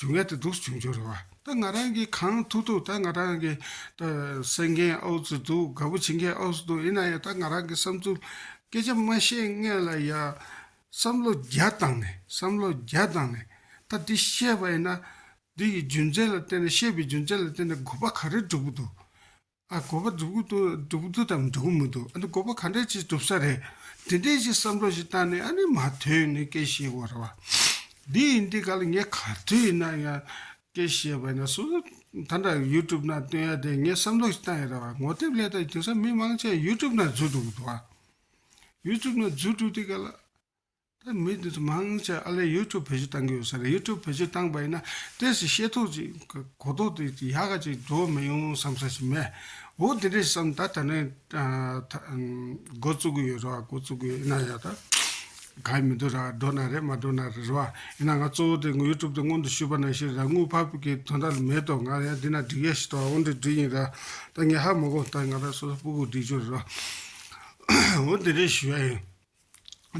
འབྱུང་བའི་དུག་སུ་བྱུང་བྱུང་རེད་བ། ད་ང་རང་གིས་གང་ཐུག་ཐུག་ད་ང་རང་གི་ད་སེང་གེ་ཨོག་ཙི་འདུག་དགའ་བོ་བྱིན་གྱི་ཨོག་ཙི་འདུག་ཡིན་ན་ཡང་ད་ང་རང་གི་བསམ་ཚུལ་སྐད་ཆ་མ་བཤད་སྔས་ལ་ཡང་བསམ་བློ་རྒྱ་བཏང་ནས་བསམ་བློ་རྒྱ་བཏང་ནས་ད་འདི་བཤད་པ་ཡིན་ན་འདི་ཡི་རྒྱུ་མཚན་ལ་བརྟེན་ནས་བཤད་པའི་རྒྱུ་མཚན་ལ་བརྟེན་ནས་དགོས་པ་ག་རེ་འགྲུབ་གི་འདུག་ཨ་དགོས་པ་སྒྲུབ་གི་འདུག་སྒྲུབ་གི་འདུག་དམ་སྒྲུབ་གི་མི་འདུག་ཨ་དགོས་པ་ག་འདྲ་ཅིག་སྒྲུབ་ས་རེད། དེ་འདྲའི་ཞིག་བསམ་བློ་ཞིག་བཏང་ནས་ཨ་ནི་མ་ཐོན་ནས་སྐད་བཤད་དགོས་རེད་བ། འདི་ཡིན་འདི་ག་ལ་ངས་ག་དུས་ཡིན་ན་ཡང་སྐད་བཤད་པ་ཡིན་ན་སོ་སོ་ད་འདྲ YouTube ནང་བཏོན་ཡ་དེ་ངས་བསམ་བློ་ཞིག་བཏང་ཡ་རེད་བ་ངོ་དེབ་ལས་དང་དེང་སང་མི་མང་ཆེ་བ YouTube ནང་འཛུལ་འགྲོ་གི་འདུག་བ། YouTube ནང་འཛུལ་འགྲོ་དེ་ག་ལ། ད་མི་དེ་ཚོ་མང་ཆེ་ཨ་ལས་ཡུལ་གྲུ་བེད་སྤྱོད་བཏང་གི་ཡོད་ས་རེད་ཡུལ་གྲུ་བེད་སྤྱོད་བཏང་པས་ན་ཏེས་ཀྱི་ཤེས་ཐོག་ཅིག་གི་གོ་རྟོག་དེ་ཅིག་ཡག་ག་ཅིག་འགྲོ་མི་ཡོང་བསམ་ས་ཞིག་མེད་འོ་དེ་འདྲས་བསམ་ད་ད་ནས་འགོ་བཙུག་གི་ཡོད་རེད་བ་འགོ་བཙུག་གི་ཡོད་ཡིན་ན་ཡག་ད་ག་ཡི་མི་འདུག་ར་འགྲོ་ན་རེད་མ་འགྲོ་ན་རེད་རེད་བ་ཡིན་ན་ང་གཙོ་བོ་དེ་ཡུལ་གྲུབ་དེ་སྔོན་དུ་ཞུས་པ་ན་ཤེས་རེད་ད་དངུལ་ཕར་བུད་ཀྱི་དོན་དག་ལ་མེད་དོ་ང་ཡང་འདི་ན་སྒྲིག་ཡས་ཤིག་ཏོ་འོ་འདི་སྒྲིག་ཡིན་ར་ད་ངས་ཧ་མ་གོ་ད་ང་ད་སོ་སོ་སྤུ་གུ་སྒྲིག་ཆོག་རེད་བ་འོ་འདི་འདྲས་ཞུས་ཡ་ཡིན།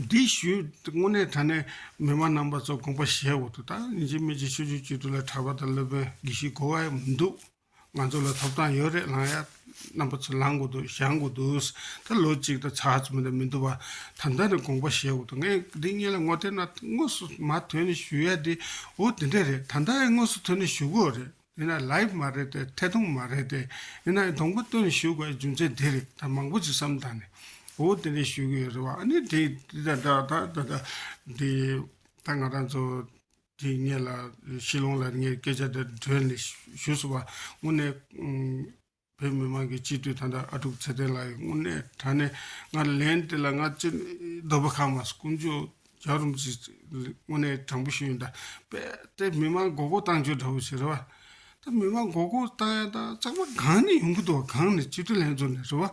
འདི་ཞུས་དངོས་གནས་དྲ་གནས་མི་མང་རྣམ་པ་ཚོ་དགོངས་པ་བཞེས་འོག་ཏུ་ད་ནི་འཇིགས་མེད་ཀྱི་ཆོས་བརྒྱུད་སྤྱི་འཐུས་ལ་གྲྭ་པ་དང་སློབ་དཔོན་དགེ་བཤེས་གོ་བ་ཡང་མི་འདུག་ང་ཚོ་ལ་ཐོབ་ཐང་ཡོད་རེད་ལངས་ཡ་རྣམ་པ་ཚོ་ལངས་དགོས་འདུག་བཞག་དགོས་འདུག་ད་ལོ་གཅིག་དང་ཚ་ཚ་མེད་དང་མི་འདུག་བ་ད་ལྟ་ནས་དགོངས་པ་བཞེས་འོག་ཏུ་ངས་འདི་གཉིས་ལ་ངོ་དེ་ན་དངོས་སུ་མ་ཐོན་ནས་ཞུ་ཡ་དེ་འོ་དེ་འདྲ་རེད་ད་ལྟ་ཡང་དངོས་སུ་ཐོན་ནས་ཞུ་དགོས་རེད། དེ་ན live མ་རེད་དེ་ཐད་གཏོང་མ་རེད་དེ་ཡིན་ན་སྡོང་པོ་སྟོན་ཞུས་དགོས་རྒྱུ་མཚན་དེ་རེད་ད་མང་པོ་ཅིག་བསམ་དང་ནི་འོ་དེ་འདྲས་ཞུས་གི་ཡོད་རེད་བ་ཨ་ནི་དེ་དེ་ད་ད་ད་ད་དེ་ད་ང་རང་ཚོ་དེ་ངེད་ལ་ཤི་ལོང་ལ་ངས་སྐད་ཆ་དེ་འདྲས་ནས་ཞུས་སོང་བ་དངོས་ནས་བོད་མི་མང་གི་སྤྱི་འཐུས་ཐ་ན་ཨ་ཀྲུག་ཚེ་བརྟན་ལགས་ཡི་དངོས་གནས་དྲ་ནས་ང་ལན་དེ་ལ་ང་ཅི་འདོད་པ་ཁ་མ་ཀུན་ཅོ་རྒྱག་རུམ་ཅི་དངོས་གནས་དྲང་པོ་ཞུ་ཡོད་འདྲ་པས་དེ་མི་མང་མགོ་སྐོར་བཏང་རྒྱུ་འདྲ་བོ་ཞིག་རེད་བ། ད་མི་མང་མགོ་སྐོར་བཏང་ཡང་ད་ཙག་པ་གང་ནས་ཡོང་གི་འདུག་བ་གང་ནས་སྤྱི་འཐུས་ལྷན་ཚོགས་ནས་རེད་བ།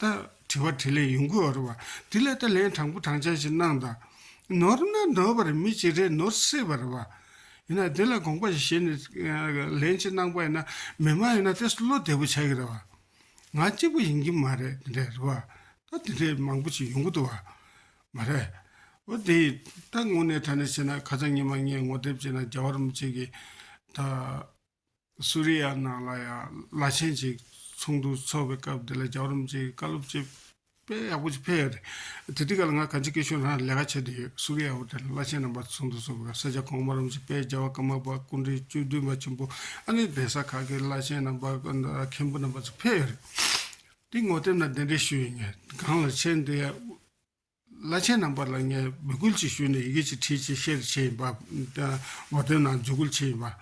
ལྟར་དྲི་བ་དྲིས་ལན་ཡོང་གི་འོ་རེད་བ། དེ་ལས་ད་ལན་དྲང་པོ་དྲང་བཞག་ཅིག་གནང་དང། ནོར་ན་ནོར་བ་རེད་མི་གཅིག་རེ་ནོར་སྲིད་པ་རེད་བ། ཡིན་ན་དེ་ལ་དགོངས་པ་ཞིག་བཞེས་ནས་ལན་གཅིག་གནང་པ་ཡིན་ན་མི་མང་ཡིན་ན་དེ་སུ་བློ་བདེ་པོ་བྱ་གི་རེད་བ། ང་གཅིག་པུ་ཡིན་གྱི་མ་རེད་དེ་འདྲ་རེད་བ། ད་དེ་འདྲའི་མང་པོ་ཞིག་ཡོང་གི་འདུག་བ། མ་རེད། འོ་དེ་ད་དངོས་གནས་ཐ་ན་བྱས་ན་ཁ་ཚ་ཉི་མ་ངས་ངོ་དེབ་བྱས་ན་རྒྱ་བར་མི་བྱེད་གི། ད། སུ་རི་ཡ་ནང་ལ་ཡང་བླ་ཆེན་གཅིག་ཚོགས་འདུ་འཚོགས་པའི་སྐབས་དེ་ལ་རྒྱ་རོམ་གྱི་བཀའ་སློབ་སྤྱི་དཔལ་ཡག་པོ་ཞིག་ཕེབས་ཡོད་རེད། དེ་དུས་ག་ལ་ང་གངས་སྐྱིད་སྐད་ཤོད་ནང་ལས་ཀ་བྱེད་དུ་ཡོད་སུ་རི་ཡ་དབུ་དྲ་ནས་བླ་ཆེན་རྣམ་པ་ཚོགས་འདུ་འཚོགས་པའི་སྐབས་ས་སྐྱ་གོང་མ་རོམ་གྱི་དཔལ་རྒྱལ་བ་ཀརྨ་པ་སྐུ་འཕྲེང་བཅུ་བདུན་པ་ཆེན་པོ་ཨ་ནེ་གདན་ས་ཁག་གི་བླ་ཆེན་རྣམ་པ་མཁན་པོ་རྣམ་པ་ཚོ་ཕེབས་ཡོད་རེད། དེ་ངོ་དེབ་ནང་གདན་འདྲེན་ཞུས་ཡོད་ངེས། གངས་ལ་ཆེན་དེ་ཡང་དབུ། བླ་ཆེན་རྣམ་པ་ལ་ངས་འབོད་སྐུལ་ཅིག་ཞུས་ནས་ཡི་གེ་ཅིག་བྲིས་ཅེས་བཤད་རེ་བྱེད་ཡིན་པ། ངོ་དོན་ནང་འཇུག་སྐུལ་བྱེད་ཡིན་པ།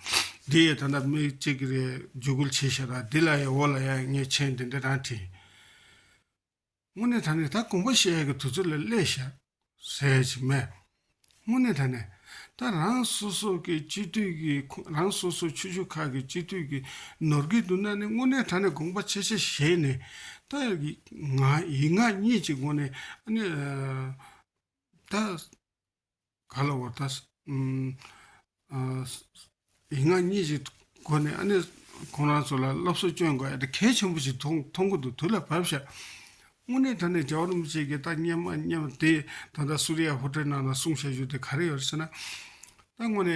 འདི་ཡས་ད་ལྟ་མི་གཅིག་གི་རེད་འཇུག་སྐུལ་བྱེད་ཤེས་ད་འདི་ལ་ཡས་འོག་ལ་ཡས་ངས་མཆན་འདི་འདྲ་རང་བྲིས། དངོས་གནས་ད་ནི་ད་དགོངས་པ་བཤད་ཡས་ཀྱི་དུས་ཚོད་ལ་སླེས་ཤག། ཟེར་ཅིག་སྨྲས། དངོས་གནས་ད་ནས་ད་རང་སོ་སོ་གི་སྤྱི་འཐུས་ཀྱི་རང་སོ་སོ་ཆུ་ཤུར་ཁག་གི་སྤྱི་འཐུས་ཀྱི་ནོར་གྱི་འདུག་ན་ནི་དངོས་གནས་ད་ནས་དགོངས་པ་ཆེ་ཆེ་བཞེས་ནས་ད་ང་ཡིག་ངག་གཉིས་ཀྱི་སྒོ་ནས་ཨ་ནི་ད་ག་ལ་བོར་ད་ཡིག་ངག་གཉིས་ཀྱི་སྒོ་ནས་ཨ་ནེ་ཁོང་རང་ཚོ་ལ་སློབ་གསོ་སྤྱོད་དགོས་ཨ་དེ་གལ་ཆེན་པོ་ཞིག་ཐོག་ཐོག་མགོ་ཏུ་དུས་ལ་བབས་ཤག། དངོས་གནས་ད་ནས་རྒྱ་བོད་མི་གཅིག་གི་ལྟ་སྙམ་མ་སྙམ་དེ་ད་ལྟ་སུ་རི་ཡ་ཧོ་ཏེལ་ནང་ན་གསུངས་བཤད་རྒྱུ་དེ་ག་རེ་ཡོད་རེད་ཟེར་ན། ད་དངོས་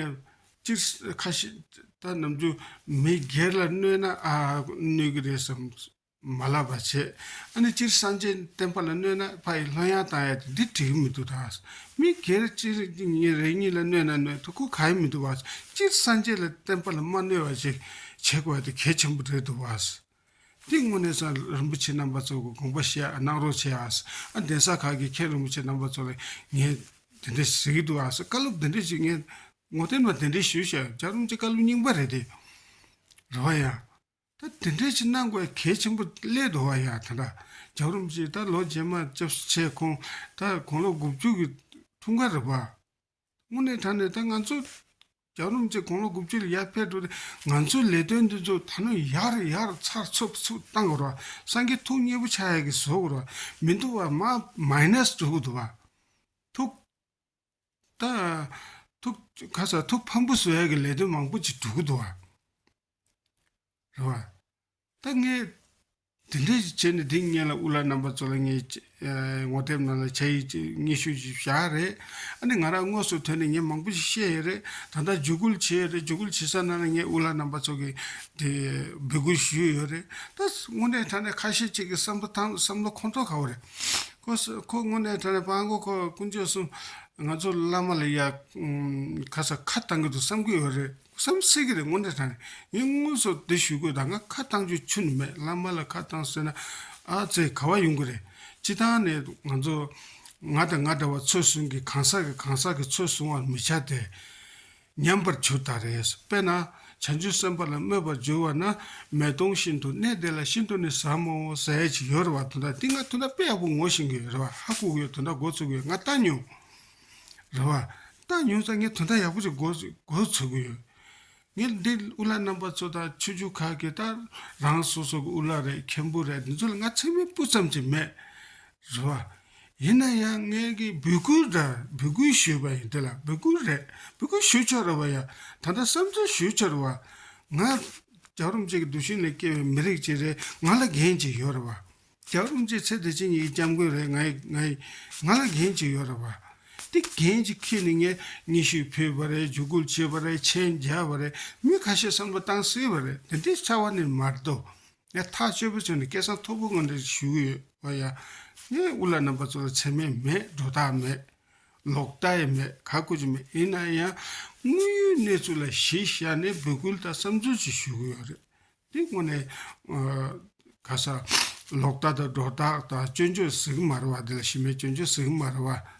གནས་སྤྱིར་ཁ་ཤས་ད་ནམ་རྒྱུན་མི་སྒེར་ལ་གནོད་ན་གནོད་གི་རེད་བསམ། མ་བསླབ་པར་བྱེད། ཨ་ནི་སྤྱིར་སངས་རྒྱས་བསྟན་པ་ལ་གནོད་ན་ཕ་ཡི་ལྷ་ཡང་བཏང་ཡ་དེ་འདི་བྲིས་གི་མི་འདུག་ད། མི་སྒེར་སྤྱིར་ཉིན་རེ་གཉིས་ལ་གནོད་ན་གནོད་དོ་གོ་ག་ཡི་མི་འདུག་བ། སྤྱིར་སངས་རྒྱས་ལ་བསྟན་པ་ལ་མ་གནོད་བ་ཞིག་བྱེད་དགོས་དེ་གལ་ཆེན་པོ་རེད་འདུག་བ། འདི་དངོས་གནས་སང་རིན་པོ་ཆེ་རྣམ་པ་ཚོ་གི་དགོངས་པ་བཤད་གནང་རོགས་བྱས་ཨ། གདན་ས་ཁག་གི་མཁན་རིན་པོ་ཆེ་རྣམ་པ་ཚོ་ལ་ངས་དེ་འདྲ་ཟེར་གི་འདུག་ཨ་བཀའ་སློབ་དེ་འདྲ་ཞིག་ངས་ངོ་བསྟན་པ་དེ་འདྲ་ཞུ་བྱ་རུང་ཅི་བཀའ་སློབ་རྙིང་པ་རེད་དེ། རེ་བ་ཡང། ད་དེ་འདྲའི་ཕྱི་ནང་གི་གལ་ཆེན་པོ་ཀླད་དོ་བ་ཡང་དེ་འདྲ་རྒྱག་རུམ་ཅིག་ད་ལོ་རྗེས་མ་བཅར་བཞུ་བྱས་ཁོང་ད་དགུང་ལོ་དགུ་བཅུ་གི་འཁྲུངས་སྐར་རེད་པ། དངོས་གནས་དྲ་ནས་ད་ང་ཚོ་རྒྱག་རུམ་ཅིག་དགུང་ལོ་དགུ་བཅུ་ལ་ཡར་ཕེབས་འགྲོ་དེ་ང་ཚོའི་ལས་དོན་འདི་ཚོ་ད་ནོ་ཡག་རེ་ཡག་རེ་ཚར་ཚུབ་ཚུབ་བཏང་དགོས་རོགས་སངས་རྒྱས་ཐུགས་མཉེས་པོ་ཆགས་ཡག་གི་བཟོ་དགོས་རོགས་མི་འདུག་བ་མ་མ་ཡིན་ན་བཟོ་དགོས་འདུག་བ། ཐུགས། ཁ་སང་ཐུགས་ཕམ་པོ་སོས་ཀྱི་ལས་དོན་མང་པོ་ཅིག་གྲུབ་འདུག་བ། རེད་བ། ད་ངས་དེ་འདྲ་ཞིག་བྱས་ནས་དེ་ངེད་ལ་དབུ་བླ་རྣམ་པ་ཚོ་ལ་ངས་ངོ་དེབ་ནང་ལ་བྱ་ཡིག་ཅིག་སྙན་ཞུ་ཞིག་བཞག་རེད། ཨ་ནི་ང་རང་དངོས་སུ་ཐོན་ནས་ངས་མང་པོ་ཞིག་བཤད་ཡས་རེད། ད་ལྟ་འཇུག་སྐུལ་བྱེད་ཡས་རེད་འཇུག་སྐུལ་བྱེད་ས་ནང་ལ་ངས་དབུ་བླ་རྣམ་པ་ཚོ་གི་དེ་འབོད་སྐུལ་ཞུས་ཡོད་རེད། ད་དངོས་གནས་ད་ནས་ཁ་ཤས་ཅིག་གི་བསམ་བློ་ཁོང་ཚོ་ག་བ་རེད། ཁོ་སོགས་ཁོ་དངོས་གནས་དྲན་ནས་དཔའ་མགོ་ཁོ་སྐུ་མཆོད་གསུམ། ང་ཚོ་བླ་མ་ལ་ཡག་ཁ་ས་ཁ་བཏང་གི་འདུག་བསམ་གི་ཡོད་རེད་བསམ་སྲིད་ཀྱི་རེད་དངོས་གནས་དྲན་ནས་ངས་དངོས་སུ་འདི་ཞུ་དགོས་ད་ང་ཁ་བཏང་རྒྱུ་ཆུ་ནི་མེད་བླ་མ་ལ་ཁ་བཏང་ཟེར་ན་ཨ་ཙེ་ག་བ་ཡོང་གི་རེད་སྤྱི་བཏང་ནས་ང་ཚོ་ང་དང་ང་འདྲ་བ་ཚོད་བཟུང་གི་གང་ཟག་གི་གང་ཟག་གི་ཚོད་བཟུང་བར་མི་བྱ་སྟེ། ཉམས་པར་གྱུར་ད་རེས་པས་ན་བྱང་ཆུབ་སེམས་དཔའ་ལ་སྨོད་པར་འགྱུར་བ་ན་མེ་དོང་བཞིན་དུ་གནས་དེ་ལ་ཤིན་ཏུ་ནི་ཟབ་མོ་ཟས་ཅི་ཡོད་རེ་བ་དོ་འདྲ་ཏི་ང་དོ་འདྲ་དཔེ་ཡག་པོ་ངོ་ཤེས་གི་རེ་བ་ཧ་ལྐུག་ཡོད་དོ་འདྲ་མགོ་ཚོས་གི་ང་ལྟ་མྱོང། རེ་བ། ལྟ་མྱོང་ཙང་ངས་དོ་འདྲ་ཡག་པོ་ཅིག་མགོ་ཚོས་གི་ཡོད། ངས་འདི་དབུ་བླ་རྣམ་པ་ཚོ་དང་ཆོས་བརྒྱུད་ཁག་གི་ལྟར་རང་སོ་སོ་གི་དབུ་བླ་རེད་མཁན་པོ་རེད་འདི་ཚོ་ལ་ང་ཚེགས་མེད་སྤུ་ཙམ་ཅིག་མེད། རེད་བ། ཡིན་ན་ཡང་ངེད་ཀྱི་འབོད་སྐུལ་འདྲར་འབོད་སྐུལ་ཞུས་པ་ཡིན་དེ་ལ་འབོད་སྐུལ་རེད་འབོད་སྐུལ་ཞུས་ཆོག་རེད་བ་ཡ། ད་ལྟ་བསམ་ཚུལ་ཞུས་ཆོག་རེད་བ། ང། རྒྱ་རོམ་གཅིག་གི་འདུ་ཤེས་ནས་སྐྱེས་བའི་མི་རིགས་གཅིག་རེད་ང་ལ་འགན་གཅིག་ཡོད་རེད་བ། རྒྱ་རོམ་གཅིག་ཚེ་འདི་ཕྱི་གཉིས་ཀྱི་སྐྱབས་མགོན་རེད་ང་ཡི་ང་ཡི། ང་ལ་འགན་གཅིག་ཡོད་རེད་བ། དེ་འགན་གཅིག་ཁྱེད་ནི་ངས་སྙན་ཞུ་ཕུལ་བ་རེད་འཇུག་སྐུལ་བྱས་པ་རེད་མཆན་བརྒྱབ་བ་རེད་མི་ཁ་ཤས་བསམ་བློ་བཏང་སྲིད་བ་རེད་འདི་འདྲའི་ཆ་བ་ནི་མ་རེད་དོ། ཡང་ཐག་གཅོད་པོ་བྱུང་ནས་སྐད་གསང་མཐོ་པོ་ངང་དུ་ཞུ་གི་ཡོད་བ་ཡང། ངས་དབུ་ལ་ནང་པ་ཚོ་ལ་ཚེར་མས་མེད་སྒྲོ་བཏགས་མེད། ལོག་ལྟ་ཡང་མེད་ག་དགོས་ཀྱི་མེད་ཡིན་ན་ཡང། དངོས་ཡོད་གནས་ཚུལ་ལ་གཞི་བཞག་ནས་འབོད་སྐུལ་དང་བསམ་ཚུལ་ཅིག་ཞུ་གི་ཡོད་རེད། དེ་དངོས་ནས། ག་ས། ལོག་ལྟ་དང་སྒྲོ་བཏགས་དང་སྐྱོན་བརྗོད་ཟིག་མ་རེད་བ་དེ་ལ་ཞི་མེད་སྐྱོན་བརྗོད་ཟིག་མ་རེད་བ།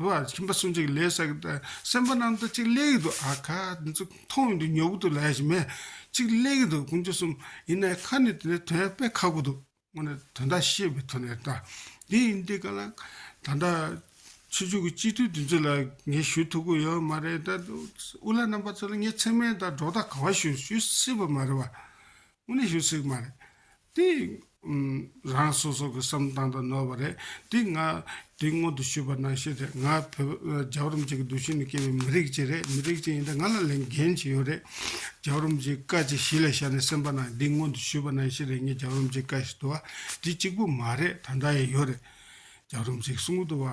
དུ་ཨ། ཁྱིམ་པ་སུ་འཇིག་ལས་བསགས་ཀྱི་དང། སེམས་དཔའ་རྣམས་དང་གཅིག་ལས་ཀྱི་དུ་ཨ། ཁ་འདི་ཚོ་མཐོང་ཡོང་དུས་ཉོ་གི་དུ་ལས་གཞི་མེད། གཅིག་ལས་ཀྱི་དུ་ཀུན་འབྱུང་གསུམ། ཡིན་ནའི་ཁ་ནི་དེ་ནས་དོན་དཔེ་ཁག་པོ་འདུག། སྔོན་ནས་དོན་དག་ཤེས་པའི་དོན་ནས་ད། འདི་ཡིན་འདི་ག་ལ། ད་ལྟ། ཆོས་འབྱུང་གི་སྤྱི་འཐུས་འདི་ཚོ་ལ་ངས་ཞུ་ཐུབ་ཀྱི་ཡོད་མ་རེད། དབུ་བླ་རྣམ་པ་ཚོ་ལ་ངས་མཚན་སྨད་དང་སྒྲོག་ཐག་ག་བ་ཞུ་ཞུ་སྲིད་པ་མ་རེད་བ། དངོས་གནས་ཞུ་སྲིད་མ་རེད། དེ་རང་སོ་སོ་གི་བསམ་སྟངས་དང་ནོར་བ་རེད། དེ་ང་དེ་སྔོན་དུ་ཞུས་པ་ནང་བཤད་རེད་ང་བོད་རྒྱ་རོམ་གཅིག་གི་འདུ་ཤེས་ནས་སྐྱེས་པའི་མི་རིགས་གཅིག་རེད་མི་རིགས་གཅིག་ཡིན་ད་ང་ལ་ལས་འགན་གཅིག་ཡོད་རེད། རྒྱ་རོམ་གཅིག་བཀའ་གཅིག་གཞི་ལ་བཞག་ནས་སེམས་པ་ནང་འདི་སྔོན་དུ་ཞུས་པ་ནང་བཤད་རེད་ངས་རྒྱ་རོམ་གཅིག་བཀའ་ཞེས་དུ་བ་དེ་གཅིག་པུ་མ་རེད་ད་ལྟ་ཡང་ཡོད་རེད། རྒྱ་རོམ་གཅིག་གསུང་གི་དུ་བ་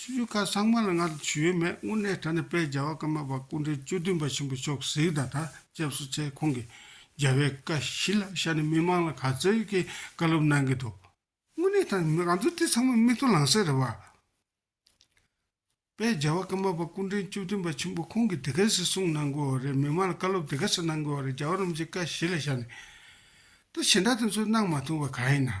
ཆུ་ཆུ་ཁ་སང་མ་ལ་ང་ལ་ཆུ་ཡོད་མེད་དངོས་གནས་ད་ནི་དཔལ་རྒྱལ་བ་ཀརྨ་པ་སྐུ་འཕྲེང་བཅུ་བདུན་པ་ཆེན་པོ་མཆོག་གཟིགས་དང་ཐག་བཅད་བསུ་ཆེད་ཁོང་གི་རྒྱལ་བའི་བཀའ་བཞི་ལ་ཤར་ནས་མི་མང་ལ་ག་ཚོད་ཀྱིས་བཀའ་སློབ་གནང་གི་འདུག་དངོས་གནས་ད་ནི་ང་ཚོ་དེ་ཚང་མ་མི་ཐུགས་ལང་སེ་རེད་བ། དཔལ་རྒྱལ་བ་ཀརྨ་པ་སྐུ་འཕྲེང་བཅུ་བདུན་པ་ཆེན་པོ་ཁོང་གིས་དེ་ག་ཟིག་གསུངས་གནང་དགོས་བ་རེད་མི་མང་ལ་བཀའ་སློབ་དེ་ག་ཟིག་གནང་དགོས་བ་རེད་རྒྱལ་བ་རིན་པོ་ཆེའི་བཀའ་བཞི་ལ་ཤར་ནས་ད་ཞེ་འདྲ་དེ་ཚོ་གནང་མ་ཐུབ་བ་ག་ཡིན་ནམ།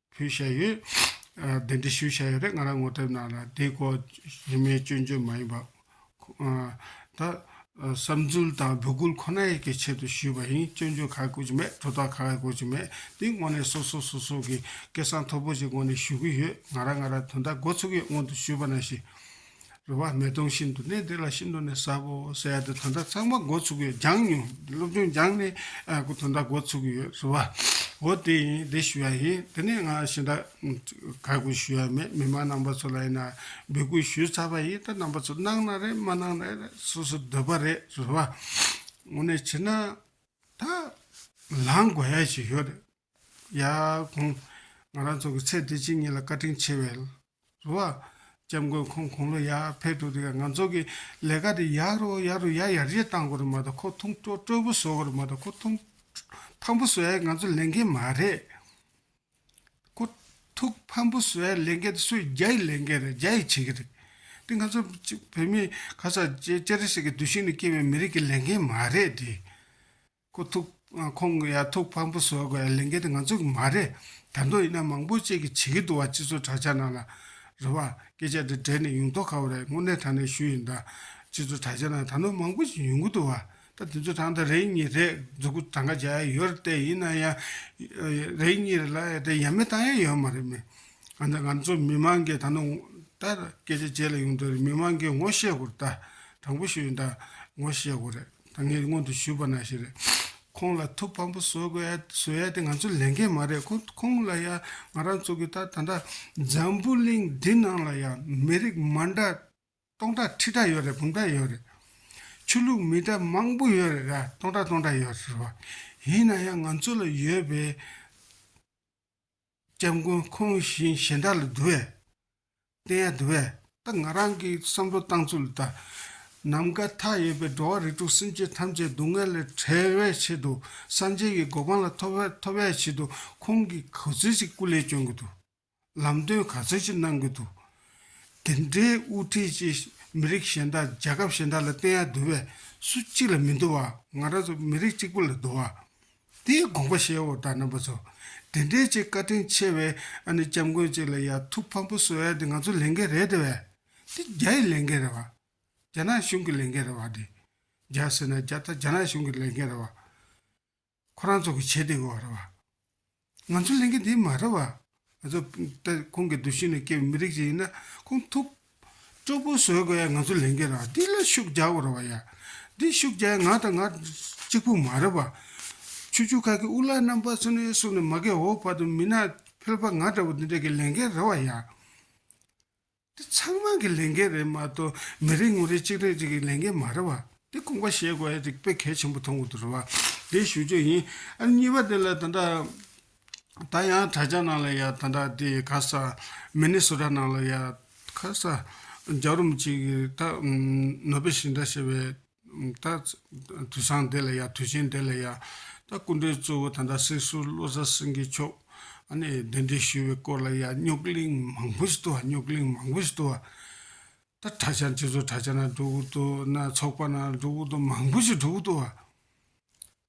ཕུལ་བཞག་ཡོད། གདན་འདྲི་ཞུ་བཞག་ཡོད་རེད་ང་རང་ངོ་དེབ་ནང་ལ་དེའི་སྐོར་རིན་མེད་སྐྱོན་བརྗོད་མ་ཡིན་པ། ད། བསམ་ཚུལ་དང་འབོད་སྐུལ་ཁོ་ན་ཡིན་གྱི་ཆེད་དུ་ཞུས་པ་ཡིན་སྐྱོན་བརྗོད་ག་གི་དགོས་ཀྱི་མེད་དོ་དག་ག་གི་དགོས་ཀྱི་མེད་དེའི་སྔོན་ནས་སོ་སོ་སོ་སོ་གི་སྐད་གསང་མཐོ་པོ་ཞིག་སྔོན་ནས་ཞུ་གི་ཡོད་ང་རང་ང་རང་དོན་དག་འགོ་ཚུགས་ཡོད་སྔོན་དུ་ཞུས་པ་ན་ཞིག་རེ་བ་མེ་དོང་བཞིན་དུ་གནས་འདི་ལ་ཤིན་ཏུ་ནས་ཟབ་བོ་ཟེར་ཏེ་དོན་དག་ཚང་མ་འགོ་ཚུགས་ཡོད་སྦྱངས་མྱོང་སློབ་ཆུང་སྦྱངས་ནས་དོན་དག་འགོ་ཚུགས་ཡོད་ཟེར་བ། འོ་དེ་ཡིན་དེ་ཞུ་ཡ་ཡིན་དེ་ནས་ང་ཤི་ད་ག་དགོས་ཞུ་ཡ་མེད་མི་མང་རྣམ་པ་ཚོ་ལ་ཡིན་ན་འབོད་སྐུལ་ཞུས་ཚར་བ་ཡིན་ད་རྣམ་པ་ཚོ་གནང་ན་རེད་མ་གནང་ན་རེད་སོ་སོ་འདོད་པ་རེད་ཟེར་བ། འོ་ནས་བྱས་ན་ད་ལངས་དགོས་ཡ་ཞིག་ཡོད་རེད། ཡ། གོང། ང་རང་ཚོ་གི་ཚེ་འདི་གཅིག་ཉིད་ལ་བཀའ་དྲིན་ཆེ་བས། རུ་བ། སྐྱབས་མགོན་ཁོང་དགུང་ལོ་ཡར་ཕེབས་འདུག་དེ་ག་ང་ཚོ་གི་ལས་ཀ་དེ་ཡར་རུ་ཡར་རུ་ཡར་ཡར་རྗེས་གཏང་དགོས་རེད་མ་གཏོགས་ཁོ་ཐུང་སྤྲོ་སྤྲོ་པོ་བཟོ་དགོས་རེད་མ་གཏོགས་ཁོ་ཐུང་ཕམ་པོ་བཟོས་ང་ཚོ་ལས་འགན་མ་རེད། ཁོ་ཐུག་ཕམ་པོ་བཟོས་ལས་འགན་དེ་སུས་རྒྱ་ཡི་ལས་འགན་རེད་རྒྱ་ཡིས་བྱེད་ཀྱི་རེད། དེ་ང་ཚོ་བོད་མི་ག་ས་ཅི་ཅི་རེ་ཞིག་གི་བདུད་ཤིང་ནས་སྐྱེས་པའི་མི་རིགས་ཀྱི་ལས་འགན་མ་རེད་དེ། ཁོ་ཐུག་ཁོང་གི་ཡར་ཐུག་ཕངས་པོ་བཟོ་དགོས་ལས་འགན་དེ་ང་ཚོ་གི་མ་རེད་དར་མདོ་ཡིན་ན་མང་པོ་བཅས་ཀྱི་བྱེད་ཀྱི་འདུག་བ་སྤྱི་ཚོགས་དྲ་ཆ་ནང་ལ་རེད་བ་སྐད་ཆ་དེ་དྲན་ནས་ཡུང་རྟོག་ཁ་བོ་རེད་དངོས་གནས་དྲང་གནས་ཞུ་ཡིན་ད་སྤྱི་ཚོགས་དྲ་ཆ་ནང་དར་མདོ་མང་པོ་ཞིག་ཡོང་གི་འདུག་བ་ད་དེ་ཚོ་དྲང་ད་རེད་གཉིས་རེད་མཛུ་གུ་གྲངས་ཀ་བྱ་ཡ་ཡོད་རེད་ཏེ་ཡིན་ན་ཡང་རེད་གཉིས་རེད་ལ་ཡ་དེ་ཡ་མེད་གཏང་ཡ་ཡོད་མ་རེད་མེད་ང་ད་ང་ཚོ་མི་མང་གི་དར་མདོ་ད་སྐད་ཆ་བྱེད་ལ་ཡོང་དོན་རེད་མི་མང་གི་ངོ་ཤེས་དགོས་རེད་ད་དྲང་པོ་ཞུ་ཡིན་ད་ངོ་ཤེས་དགོས་རེད། ད་ངས་སྔོན་དུ་ཞུས་པ་ན་ཞེས་རེད། ཁོང་ལ་ཐུགས་ཕམ་པོ་བཟོ་དགོས་ཡ་བཟོ་ཡ་དེ་ང་ཚོ་ལས་འགན་མ་རེད་ཁོང་ཁོང་ལ་ཡ་ང་རང་ཚོ་གི་ད་ད་ལྟ་འཛམ་བུ་གླིང་འདི་ནང་ལ་ཡ་མི་རིགས་མ་འདྲ་སྟོང་ཕྲག་ཁྲི་ཕྲག་ཡོད་རེད་འབུམ་ཕྲག་ཡོད་རེད། ཆོས་ལུགས་མི་འདྲ་མང་པོ་ཡོད་རེད་ར་སྟོང་ཕྲག་སྟོང་ཕྲག་ཡོད་རེད་བ། ཡིན་ན་ཡ་ང་ཚོ་ལ་ཡོད་པའི། སྐྱབས་མགོན་ཁོང་བཞིན་གཞན་དག་ལ་བསྡུ་བས། བསྟན་ཡང་བསྡུ་བས། ད་ང་རང་གི་བསམ་བློ་བཏང་ཚུལ་ལྟར། ནམ་མཁའ་མཐའ་ཡས་པའི་འགྲོ་བ་རིགས་དྲུག་སེམས་ཅན་ཐམས་ཅད་སྡུག་བསྔལ་ལས་བྲལ་བའི་ཆེད་དུ་སངས་རྒྱས་ཀྱི་གོ་འཕང་ལ་ཐོབ་ཐོབ་པའི་ཆེད་དུ་ཁོང་གིས་ག་ཚོད་ཅིག་སྐུ་ལས་བསྐྱོན་དགོས་འདུག་ལམ་སྟོན་ག་ཚོད་ཅིག་གནང་དགོས་འདུག་དེ་འདྲའི་དབུ་ཁྲིད་ཅིག་མི་རིགས་གཞན་དག་རྒྱལ་ཁབ་གཞན་དག་ལ་བསྟན་ཡང་བསྡུ་བས་སུ་གཅིག་ལ་མི་བསྡུ་བ་ང་རང་ཚོ་མི་རིགས་གཅིག་པུ་ལ་བསྡུ་བ། དེའི་དགོངས་པ་ཤེས་འོག་དག་རྣམ་པ་ཚོ། དེ་འདྲའི་ཆེས་བཀའ་དྲིན་ཆེ་བའི་ཨ་ནི་སྐྱབས་མགོན་གཅིག་ལ་ཡ་ཐུག་ཕམ་པོ་བཟོ་ཡ་དེ་ང་ཚོ་ལས་འགན་རེད་དེ་བས། དེ་རྒྱ་ཡི་ལས་འགན་རེད་བ། རྒྱ་ནག་གཞུང་གི་ལས་འགན་རེད་བ་དེ། རྒྱ་ཟེར་ན་རྒྱ་དང་རྒྱ་ནག་གཞུང་གི་ལས་འགན་རེད་བ། ཁོ་རང་ཚོ་གི་བྱེད་དེ་དགོས་བ་རེད་བ། ང་ཚོ་ལས་འགན་དེ་མ་རེད་བ། ང་ཚོ་ལྟ་ཁོང་གི་འདུ་ཤེས་ནས་སྐྱེས་པའི་མི་རིགས་ཅིག་ཡིན་ན་ཁོང་ཐུགས་སྤྲོ་པོ་བཟོད་དགོས་ཡ་ང་ཚོ་ལས་འགན་ར་འདི་ལ་ཤུགས་རྒྱག་དགོས་ར་བ་ཡ་འདི་ཤུགས་རྒྱག་ང་དང་ང་གཅིག་པུ་མ་ར་བ། ཆུ་ཆུ་ཁ་ཁི་དབུ་ལག་རྣམ་པ་ཚོ་ནས་བསུ་ནས་མ་གེ་འོག་བར་དུ་མི་ནག་ཕལ་པ་ང་འདྲ་བོ་འདི་འདྲ་གི་ལས་འགན་ར་བ་ཡ། འདི་ཚང་མ་གི་ལས་འགན་རེད་མ་གཏོགས་མི་རེ་ངོ་རེ་གཅིག་རེ་གཅིག་གི་ལས་འགན་མ་རེད་བ། འདི་དགོངས་པ་བཞེས་དགོས་རིགས་པས་གལ་ཆེན་པོ་མཐོང་གི་འདུག་རེད་བ། འདི་ཞུ་རྒྱུ་ཡིན། ཨ་གཉིས་པ་དེ་ལ་ད་ད། ད་ཡང་དྲ་རྒྱ་ནང་ལ་ཡ་ད་ད་དེ་ག་ས། མི་ནི་སོ་ད་ནང་ལ་ཡ། ག་ས། རྒྱ་རུམ་གཅིག་ད། ནོ་བེ་ཤིང་ད་ཞེས་བའི། ད་དུས་བཟང་དེ་ལ་ཡ་དུས་ཆེན་དེ་ལ་ཡ། ད་སྐུ་མགྲོན་གཙོ་བོ་ད་ལྟ་སྲིད་ཟུར་བློ་བཟང་སེང་གེ་མཆོག་ནས་གདན་འདྲེན་ཞུས་པའི་སྐོར་ལ་ཡ་རྙོག་གླིང་མང་པོ་ཞིག་ཏུ་བ་རྙོག་གླིང་མང་པོ་ཞིག་ཏུ་བ། ད་གྲྭ་བྱང་སྤྱི་ཚོགས་གྲྭ་བྱང་ན་འགྲོ་འུར་དུ་ན་ཚོགས་པ་ན་འགྲོ་འུར་དུ་མང་པོ་ཞིག་འགྲོ་འུར་དུ་བ།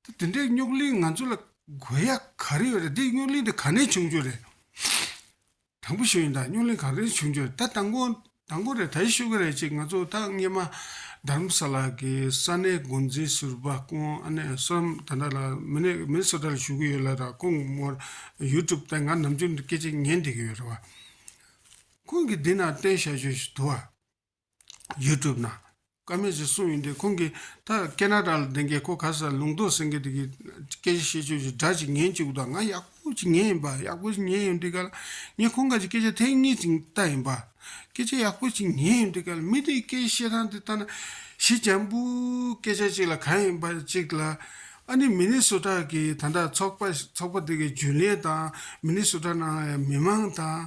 ད་དེ་འདྲའི་རྙོག་གླིང་ང་ཚོ་ལ་དགོས་ཡ་ག་རེ་ཡོད་རེད་དེ་རྙོག་གླིང་དེ་ག་ནས་བྱུང་རྒྱུ་རེད། དང་པོ་ཤེས་ཡོན་དང་སྨྱུག་གླིང་ག་གེ་བྱུང་རྒྱུ་རེད་ད་དང་པོ་དང་པོ་རེད་ད་ཡི་ཤུ་གི་རེད་ཅེས་ང་ཚོ་ད་སྔས་མ་དརམ་ས་ལ་གི་ས་གནས་མགོ་འཛིན་ཟུར་པ་ཀོང་ཨ་ནེ་སོ་རམ་ད་ནཱ་ལ་མི་ནེ་མིན་སོ་ཏར་བཞུགས་གི་ཡོད་ལ་ད་ཁོང་མོར་ཡུ་ཏུབ་སྟེང་ང་ནམ་རྒྱུན་སྐད་ཅིག་ཉན་བསྡད་གི་ཡོད་རེད་བ། ཁོང་གིས་འདི་ན་བསྟན་བཤད་བྱོས་ཞེས་དུ་བ། YouTube ནང། ཀ་མེད་ཅེས་གསུངས་ཡོད་འདུག་ཁོང་གིས་ད་ཀེ་ན་ཏཱ་ལ་བདེན་རྒན་ཁོ་ག་ས་ལུང་རྟོགས་སེང་གེ་དེ་གིས་སྐད་ཆ་བཤད་ཆོས་ཀྱི་སྒྲ་ཅིག་ཉན་བཅུག་དང་ང་ཡག་པོ་ཅིག་ཉན་ཡིན་པ་ཡག་པོ་ཅིག་ཉན་ཡོད་འདི་ག་ལ་ངས་ཁོང་ག་ཅིག་སྐད་ཆ་ཐེངས་གཉིས་ཅིག་བལྟ་ཡིན་པ་སྐད་ཆ་ཡག་པོ་ཅིག་ཉན་ཡོད་འདི་ག་ལ་མི་དེའི་སྐད་བཤད་སྟངས་དེ་ལྟ་ན་གཞི་འཇམ་པོའི་སྐད་ཆ་ཅིག་ལ་ག་ཡིན་པ་ཅིག་ལ་ཨ་ནི་མི་ནི་སོ་ཀྲག་གིས་ད་ལྟ་ཚོགས་པ་ཚོགས་པ་དེ་གི་རྒྱུན་ལས་དང་མི་ནི་སོ་ཀྲག་ནང་ལ་ཡང་མི་མང་དང།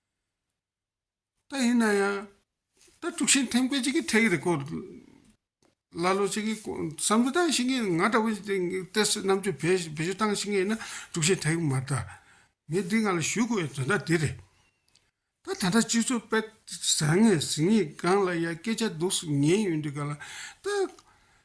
ད་ཡིན་ན་ཡང་ད་དཀྲུག་ཤིང་འཐེན་དགོས་ཅིག་གི་ཐད་ཀྱི་རེ་སྐོར་ཀླ་ཀློ་ཅིག་གི་བསམ་ཚུལ་བཏང་ཤིག་ངས་ང་འདྲ་བོ་ཏེ་རྣམ་དཔྱོད་བེད་སྤྱོད་བཏང་ཤིག་ངས་ན་དཀྲུག་ཤིང་འཐེན་གི་མ་རེད། ངས་འདི་ང་ལ་ཞུས་དགོས་པའི་དོན་དག་འདི་རེད། ད་ད་ལྟ་སྤྱི་ཚོགས་དཔེ་བཟང་ངས་གཟིགས་ངེས་སྒང་ལ་ཡ་སྐད་ཆ་སྡུག་སུ་ཉན་ཡོད་འདུག་ག་ལ་ད།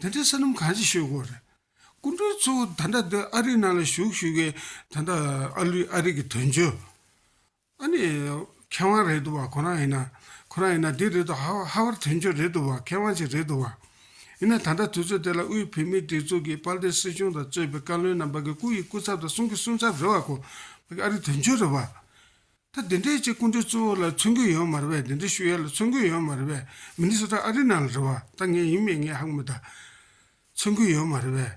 དེ་འདྲའི་བསོད་ནམས་གང་ཞིག་ཤོད་དགོས་རེད། སྐུ་མགྲོན་གཙོ་བོ་ད་ལྟ་འདི་ཨ་རིའི་ནང་ལ་བཞུགས་ཞུ་མཁན་ད་ལྟ་ཨ་ལུས་ཨ་རིག་གི་དོན་གཅོད་ཨ་ནི་མཁས་དབང་རེད་འདུག་བ་ཁོ་རང་ཡིན་ན་ཁོ་རང་ཡིན་ན་འདི་རེད་འདུག་ཧ་བར་དོན་གཅོད་རེད་འདུག་བ་མཁས་དབང་ཅིག་རེད་འདུག་བ། ཡིན་ན་ད་ལྟ་དུས་ཚོད་དེ་ལ་དབུས་བོད་མིའི་སྒྲིག་འཛུགས་ཀྱི་དཔལ་ལྡན་སྲིད་གཞུང་དང་གཙོས་པའི་བཀའ་བློན་རྣམས་བ་གི་སྐུ་ཡི་སྐུ་ཚབ་དང་གསུང་གི་གསུང་ཚབ་རེད་བ་ཁོ་བ་ཨ་རིག་དོན་གཅོད་རེད་བ། ད་དེ་འདྲའི་ཆེད་སྐུ་མགྲོན་གཙོ་བོ་ལ་མཚོན་རྒྱུ་ཡོད་མ་རེད་པས་དེ་འདྲའི་ཤུ་ཡལ་ལ་མཚོན་རྒྱུ་ཡོད་མ་རེད་པས་མི་ནི་སོ་ཏྲ་ཨ་རི་ནང་ལ་རེད་བ་ད་ངས་ཡིན་མིན་ངས་ཧང་མི་ད། མཚོན་རྒྱུ་ཡོད་མ་རེད་པས།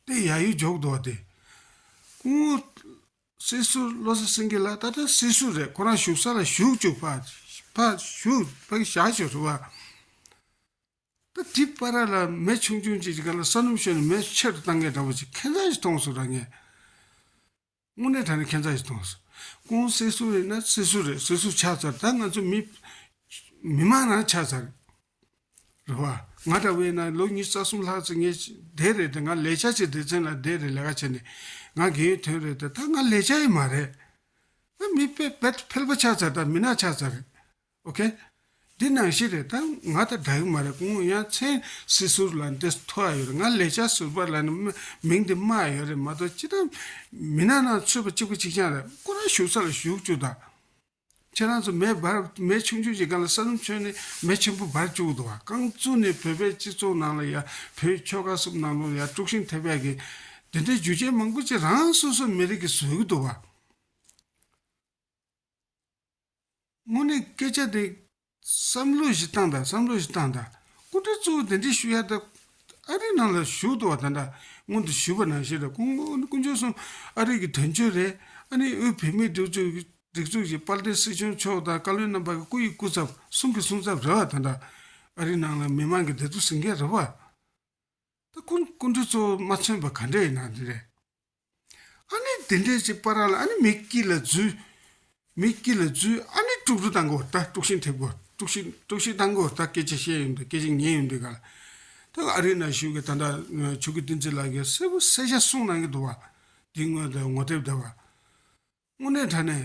ཏེ་ཡ་ཡོ་འཇོག་འདུག་བ་དེ། སྐུ་ངོ། སྲིད་ཟུར་བློ་གསལ་སེང་གེ་ལགས་ད་ལྟ་སྲིད་ཟུར་རེད་ཁོ་རང་བཞུགས་ས་ལ་བཞུགས་བཅུག་ཕ། ཕ། བཞུགས་ཕ་གི་བཞག་བྱོས་རེད་བ། ད་དེ་པ་ར་ལ་མེ་ཆུང་ཆུང་ཅིག་གི་ག་ལ་ས་སྣུམ་ཤོར་ནས་མེ་ཆེ་རུ་བཏང་མཁན་འདྲ་བོ་ཅིག་ཁེ་མཚར་ཞིག་མཐོང་སོང་ར་ངས། དངོས་གནས་ད་ནི་ཁྱད་མཚར་ཞིག་མཐོང་སོང། ཀུན་གསལ་གསུང་རེད་ན་གསེར་གསུར་རེད་གསེར་གསུར་ཆགས་ཚར་ད་ང་ཚོ་མི། མི་མང་ནང་ཆགས་ཚར། རེད་བ། ང་འདྲ་བས་ན་ལོ་ཉིས་རྩ་གསུམ་ལྷག་ཚེ་ངས་བསྡད་རེད་དེ་ང་ལས་བྱ་བྱེད་སྡེ་ཚན་ལ་བསྡད་རེད་ལས་ཀ་བྱེད་ནས་ང་རྒན་ཡོལ་ཐོན་རེད་དེ་ད་ང་ལས་བྱ་ཡི་མ་རེད། ད་མི། བལ་བལ་པོ་ཆགས་ཚར་ད་མི་ནག་ཆགས་ཚར་རེད། ok། འདི་ནང་བཞིན་རེད་ད་ང་དང་འདྲ་གི་མ་རེད་ཀོང་ཡང་མཚན་སྲིད་ཟུར་ལ་འདི་ཐོ་ཨ་ཡོད་རེད་ང་ལས་བྱ་ཟུར་པ་ལ་ནི་མིང་འདི་སྨྲ་ཨ་ཡོད་རེད་མ་གཏོགས་ཅི་ད་མི་ནག་ནང་ཚུད་པ་གཅིག་པུ་གཅིག་ཆང་རེད་ཀོ་རང་བཞུགས་ས་ལ་བཞུགས་བཅུག་ད། ཁྱེད་རང་ཚོ་མེ་འབར་མེ་ཆུང་ཆུང་གྱི་སྒང་ལ་ས་རུམ་ཆོད་ནས་མེ་ཆེན་པོ་འབར་བཅུག་ད་རྐང་བཙུག་ནས་བོད་པའི་སྤྱི་ཚོགས་ནང་ལ་ཡ་བོད་ཁྱོ་ག་གསུམ་ནང་ལོག་ཡ་དཀྲུག་ཤིང་ཐེབས་ཡ་གི་འདི་འདྲའི་རྒྱུ་རྐྱེན་མང་པོ་ཅིག་རང་སོ་སོ་མི་རིགས་ཀྱི་བཟོས་གི་འདུག་བ། དངོས་གནས་སྐད་ཆ་དེ། བསམ་བློ་གཞི་བཏང་དང་བསམ་བློ་གཞི་བཏང་དང་སྐུ་ཕྲེང་གཙོ་བོ་དེ་འདྲའི་ཞུ་ཡག་ད། ཨ་རིའི་ནང་ལ་བཞུགས་འདུག་བ་ད་འདྲ་སྔོན་དུ་ཞུས་པ་ནང་བཞིན་རེད་ཁོང་མོ་དཀོན་མཆོག་གསུམ་ཨ་རིའི་གི་དོན་གཅོད་རེད་ཨ་ནི་དབུས་བོད་མིའི་སྒྲིག་འཛུགས་ཀྱི་སྒྲིག་འཛུགས་ཀྱི་དཔལ་ལྡན་སྲིད་སྐྱོང་མཆོག་དང་བཀའ་བློན་རྣམ་པ་གི་སྐུ་ཡི་སྐུ་ཚབ་གསུམ་གི་གསུང་ཚབ་རེད་བ་ད་འདྲ་ཨ་རིའི་ནང་ལ་མི་དམངས་ཀྱི་བདེ་སྡུག་ཟིན་མཁན་རེད་བ། ད་སྐུ་སྐུ་ཕྲེང་གཙོ་བོ་མ་མཚོན་པ་ག་འདྲ་ཡིན་ནའང་དེ་རེད། ཨ་ནི་དེ་འདྲའི་ཅིག་པ་ར་ལ་ཨ་ནི་མི་སྐྱིད་ལ་རྫུས། མི་སྐྱིད་ལ་རྫུས་ཨ་ནི་དཀྲུགས་རྫུས་དང་གོ་ད་དཀྲུགས་ཤིང་ཐེབས་གོ་དཀྲུགས་ཤིང་དཀྲུགས་ཤིང་དང་གོ་ད་སྐད་ཅིག་བཤད་ཡོད་འདུག་སྐད་ཅིག་ཉན་ཡོད་འདུག་ག་ལ་ད་ག་ཨ་རིའི་ནང་བཞུགས་ཀྱི་ད་ལྟ་ཆོས་ཀྱི་བསྟན་རྩིས་ལ་གི་གསལ་པོ་གསལ་ཆ་གསུངས་གནང་གི་འདུག་བ་དེའི་ངོས་ད་ངོ་དེབ་དེ་བ་དངོས་གནས་དྲ་ནས་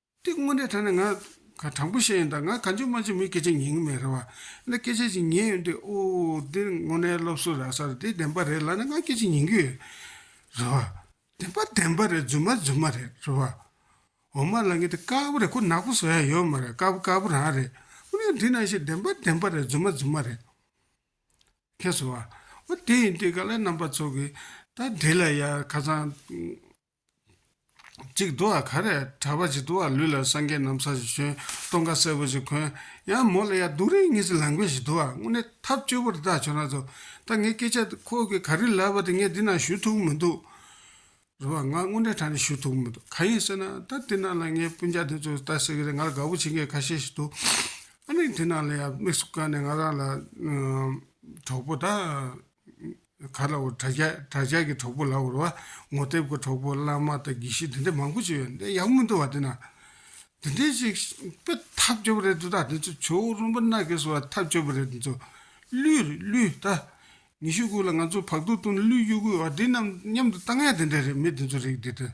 དེ་དངོས་གནས་དྲན་ནས་ང་ག་དྲང་པོ་བཤད་ཡིན་ད་ང་ག་འཇུ་མ་འཇུ་མི་སྐད་ཆ་ཉན་གི་མེད་རེད་བ། ད་སྐད་ཆ་ཅིག་ཉན་ཡོང་དུས་ཨོ་འདི་དངོས་གནས་སློབ་གསོ་རག་ས་རེད་དེ་བདེན་པ་རེད་ལབ་ནས་ང་སྐད་ཆ་ཉན་གི་ཡོད་རེད་བ། བདེན་པ་བདེན་པ་རེད་རྫུན་མ་རྫུན་མ་རེད་རེད་བ། འོ་མ་ལ་ངའི་དེ་དཀར་པོ་རེད་ཁོ་ནག་པོ་བཟོ་ཡ་ཡོད་མ་རེད་དཀར་པོ་དཀར་པོ་རང་རེད། འོ་ན་འདི་ནང་བཞིན་བདེན་པ་བདེན་པ་རེད་རྫུན་མ་རྫུན་མ་རེད། ཁེས་སོང་བ། འོ་དེ་ཡིན་དུས་ག་ལ་རྣམ་པ་ཚོ་གིས་ད་འདི་ལ་ཡ་ཁ་ཚང། ཅིག་འདུག་ཨ་ག་རེ། གྲྭ་པ་ཅིག་འདུག་ཨ་ལུས་ལ་སངས་རྒྱས་ནམ་མཚར་ཞིག་བྱོན། སྟོང་ཁ་སེར་པོ་ཅིག་གོན། ཡང་མོ་ལ་ཡ་སྡུག་རིགས་ངེད་ཚོའི་ལམ་མཁན་ཞིག་འདུག་ཨ་དངོས་གནས་ཐབས་སྐྱོ་པོ་རེ་ད་བྱོན་ན་ཐུག། ད་ངས་སྐད་ཆ་དེ་ཁོ་གིས་ག་རེ་ལབ་པ་དེ་ངས་འདི་ན་ཞུ་ཐུབ་ཀྱི་མི་འདུག། རེད་བ། ང་དངོས་གནས་ད་ནས་ཞུ་ཐུབ་ཀྱི་མི་འདུག་ག་ཡིན་ཟེར་ན། ད་དེ་ན་ལ་ངའི་སྤུན་ཅག་དེ་ཚོས་ལྟ་ཟེར་གི་རེད་ང་ལ་དགའ་པོ་བྱེད་མཁན་ཁ་ཤས་ཤིག་འདུག་ཨ་ནི་དེ་ན་ལ་ཡ་དམིགས་སུ་བཀར་ནས་ང་རང་ལ། གྲོགས་པོ་ད། ག་ལ་བ་གྲྭ་ཇག་གྲྭ་ཇག་གི་གྲོགས་པོ་ལ་བར་བ་ངོ་དེབ་གི་གྲོགས་པོ་བླ་མ་དང་དགེ་བཤེས་དེ་འདྲ་མང་པོ་བྱས་ཡོད་འདི་ཡག་མི་འདུག་བ་དེ་ན། དེ་འདྲའི་ཞིག་དཔེ་ཐག་གཅོད་པ་རེད་འདུག་ད་དེ་ཚོ་བྱོལ་བོ་རོན་པོ་མནའ་གས་སུ་བ་ཐག་གཅོད་པ་རེད་དེ་ཚོ། གླུད་རེད་གླུད་ད། ཉི་ཤུ་དགུ་ལ་ང་ཚོ་བག་དུག་བཏུང་ནས་གླུད་གཡུག་དགོས་བ་འདི་རྣམས་མཉམ་དུ་བཏང་ཡ་དེ་འདྲ་རེད་མི་དེ་ཚོ་རིགས་དེ་དང།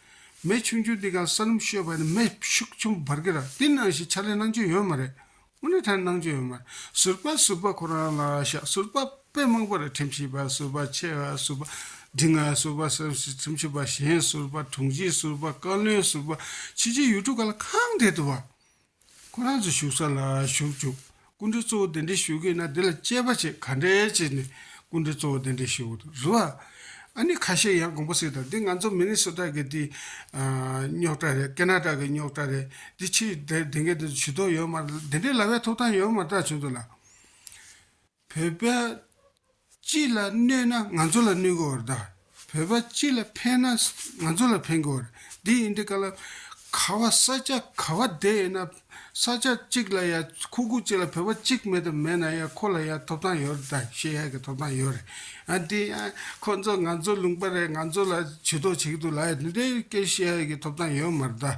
མེ་ཆུང་ཆུང་འདི་ག་ས་ལུམ་ཤོད་པ་ནི་མེ་ཤུགས་ཆུང་བར་གི་ར་འདི་སྣང་ཞིག་ཆ་ལེ་སྣང་ཆོས་ཡོད་མ་རེད་དངོས་གནས་ཐལ་སྣང་ཆོས་ཡོད་མ་རེད་ཟུར་པ་ཟུར་པ་ཁོ་རང་ལ་ཤག་ཟུར་པ་དཔེ་མང་པོ་རེ་ཁྲིམས་ཤིག་པ་ཟུར་པ་ཆེ་བ་ཟུར་པ་འབྲིང་ང་ཟུར་པ་སེམས་སུ་ཁྲིམས་ཤིག་པ་གཞན་ཟུར་པ་དྲུང་ཆེ་ཟུར་པ་བཀའ་བློན་ཟུར་པ་ཕྱི་ཆེ་ཡུལ་གྲུ་ག་ལ་གང་འདེད་དུ་བ་ཁོ་རང་ཚོའི་བཞུགས་ས་ལ་བཞུགས་བཅུག་སྐུ་འདྲེ་གཙོ་བོ་དེ་འདྲས་བཞུགས་གིན་ན་དེ་ལ་དཔྱད་པ་བྱེད་ག་འདྲས་བྱས་ནས་སྐུ་འདྲེ་གཙོ་བོ་དེ་འདྲས་བཞུགས་དགོས་རུ་ཨ། ཨ་ནི་ཁ་ཤས་ཡང་དགོངས་པ་ཟེར་ད་འདི་ང་ཚོ་མི་རིགས་སོ་དག་གི་དེ་རྙོག་དྲ་རེད་ཀེ་ན་ཏྲ་གི་རྙོག་དྲ་རེད་དེ་ཕྱིར་དེ་འགའི་དེ་དུ་ཇུས་གཏོགས་ཡོད་མ་རེད་དེ་འདྲས་ལ་བས་ཐོབ་ཐང་ཡོད་མ་ཏྲ་བྱུང་འདུག་ལ། བོད་པ་སྤྱི་ལ་གནོད་ན་ང་ཚོ་ལ་གནོད་དགོས་བར་གདའ། བོད་པ་སྤྱི་ལ་ཕན་ན་ང་ཚོ་ལ་ཕན་དགོས་བར་འདི་ཡིན་འདི་ག་ལ། ག་བ་ས་ཆ་ག་བ་བསྡད་ཡོད་ན་ས་ཆ་གཅིག་ལ་ཡ་ཁུ་ཁུ་གཅིག་ལ་བོད་པ་གཅིག་མེད་དུ་མེད་ན་ཡ་ཁོ་ལ་ཡ་ཐོབ་ཐང་ཡོད་རེད་ད་ཤེས་ཡ་གི་ཐོབ་ཐང་ཡོད་རེད་ཨ་འདི་ཨ་ཁོ་ཚོ་ང་ཚོ་ལུང་པ་རེད་ང་ཚོ་ལ་བྱུས་གཏོགས་བྱེད་ཀྱི་འདུག་ལ་འདི་སྐད་ཤེས་ཡ་གི་ཐོབ་ཐང་ཡོད་མར་གདའ་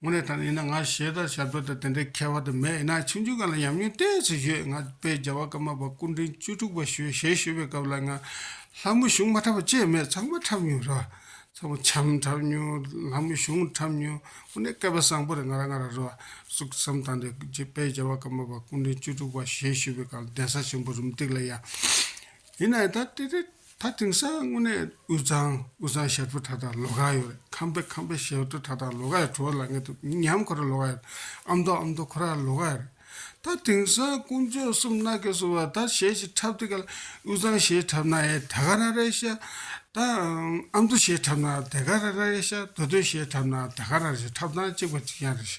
དངོས་གནས་ད་ནི་ཡིན་ན་ང་ཞེས་དང་ཞབས་བྲོ་དང་དེ་འདྲའི་ཁྱད་པར་དུ་མེད་ཡིན་ན་ཆིག་འཇུག་གང་ལ་ཉམས་མྱོང་གཏན་ཚིགས་བཤད་ང་དཔལ་རྒྱལ་བ་ཀརྨ་པ་སྐུ་འཕྲེང་བཅུ་དྲུག་པ་ཞོལ་ཞལ་བཞུགས་པའི་སྐབས་ལ་ང་ལྷ་མོ་བཞུགས་མ་འཁྲབ་པ་ཅེས་མེད་ཚང་མ་འཁྲབ་མྱོང་རེད་བ། ཚང་མ་བྱམས་འཁྲབ་མྱོང་ལྷ་མོ་བཞུགས་འཁྲབ་མྱོང་དངོས་གནས་སྐལ་པ་བཟང་པོ་རེད་ང་རང་ང་རང་རེད་བ། ཟུག་བསམ་བཏང་སྟེ་དཔལ་རྒྱལ་བ་ཀརྨ་པ་སྐུ་འཕྲེང་བཅུ་དྲུག་པ་ཞལ་བཞུགས་པའི་སྐབས་ལ་གདན་ས་ཆེན་པོ་རུམ་སྟེགས་ལ་ཡང་ཡིན་ན་ཡང་དང་དེ་འདྲའི་ད་དེང་སང་དངོས་གནས་དབུས་གཙང་དབུས་གཙང་ཞབས་བྲོ་ད་ད་ལོ་ག་ཡོད་རེད་ཁམས་པའི་ཁམས་པའི་ཞབས་བྲོ་ད་ད་ལོ་ག་ཡོད་བྲོ་ལ་ངེད་དུ་ཉམས་ཁོ་ར་ལོ་ག་ཡོད་ཨ་མདོ་ཨ་མདོ་ཁོ་ར་ལོ་ག་ཡོད་རེད་ད་དེང་སང་དཀོན་མཆོག་གསུམ་སྣ་གས་སུ་བ་ད་ཞེས་ཞེས་འཁྲབ་དེ་ག་ལ་དབུས་གཙང་ཞེས་འཁྲབ་ན་ཨེ་དེ་ག་ར་རེད་ཤ་ད་ཨ་མདོ་ཞེས་འཁྲབ་ན་དེ་ག་ར་རེད་ཤ་མདོ་སྟོད་ཞེས་འཁྲབ་ན་དེ་ག་ར་རེད་ཤ་འཁྲབ་སྟངས་གཅིག་པ་གཅིག་ཡང་རེད་ཤ་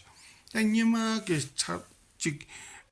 ད་སྙེ་མ་གས་འཁྲབ་གཅིག་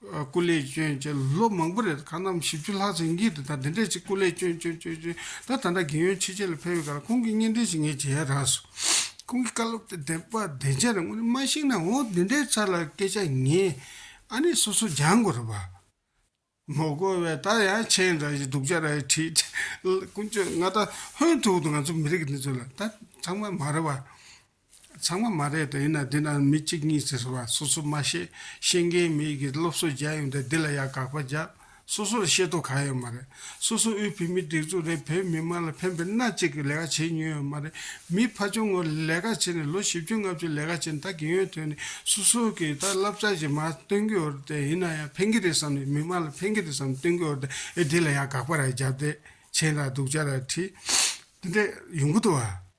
སྐུ་ལས་སྐྱོན་ཅན་ལོ་མང་པོ་རེད་ཁ་ནམ་བཞི་བཅུ་ལྷག་ཚེ་འགྱིག་དེ་དང་དེ་འདྲས་ཅིག་སྐུ་ལས་སྐྱོན་སྐྱོན་སྐྱོན་སྐྱོན་ད་ད་འདྲ་རྒན་ཡོལ་ཕྱི་རྒྱལ་ལ་ཕེབས་ཡོད་ཁར་ཁོང་གི་བརྙན་འཕྲིན་ཞིག་ངས་མཇལ་ཡས་རགས་སོང། ཁོང་གི་བཀའ་སློབ་དེ་བདེན་པ་བདེན་ཆ་རེད་དངོས་གནས་མ་ཤེས་ན་འོ་འདི་འདྲའི་ཚར་ལ་སྐད་ཆ་ངས་ཨ་ནེ་སོ་སོ་སྦྱང་དགོས་རེད་བ། མོ་རྒོལ་བས་ད་ཡང་མཆན་འདྲ་ཞིག་སྡུག་ཅག་ར་ཞིག་བྲིས། དཀོན་མཆོག་ང་ད་ཧོན་ཐུག་ཏུ་ང་ཚོ་མི་རིགས་འདི་ཚོ་ལ་ད་ཚང་མ་མ་རེད་བ། ཚང་མ་མ་རེད་དོ་ཡིན་ན་འདི་ན་མི་གཅིག་གཉིས་ཟེར་སོང་བ་སོ་སོ་མ་ཤེས་ཤེས་མཁན་མི་གིས་སློབ་གསོ་བརྒྱབ་ཡོང་དེ་འདི་ལ་ཡང་དགག་པ་བརྒྱབ་སོ་སོར་ཤེས་རྟོགས་གང་ཡོད་མ་རེད་སོ་སོ་དབུས་བོད་མིའི་སྒྲིག་འཛུགས་རེད་བོད་མི་དམངས་ལ་ཕན་པའི་སྣ་གཅིག་གི་ལས་ཀ་བྱེད་མྱོང་ཡོད་མ་རེད་མི་ཕ་ཆུང་ངུ་ལས་ཀ་བྱེད་ནས་ལོ་བཞི་བཅུ་ལྔ་བཅུ་ལས་ཀ་བྱེད་ནས་ད་རྒན་ཡོལ་ཐོན་ནས་སོ་སོ་གིས་ད་བསླབ་བྱ་ཞིག་མ་སྟོན་གི་འོར་དེ་ཡིན་ན་ཡང་ཕན་གི་རེད་བསམ་ནས་མི་དམངས་ལ་ཕན་གི་རེད་བསམ་སྟོན་གི་འོར་དེ་ཨེ་འདི་ལ་ཡང་དགག་པ་ར་བརྒྱབ་དེ་མཆན་ར་སྡུག་ཅག་ར་བྲིས་འདི་འདྲ་ཡོང་གི་འདུག་བ།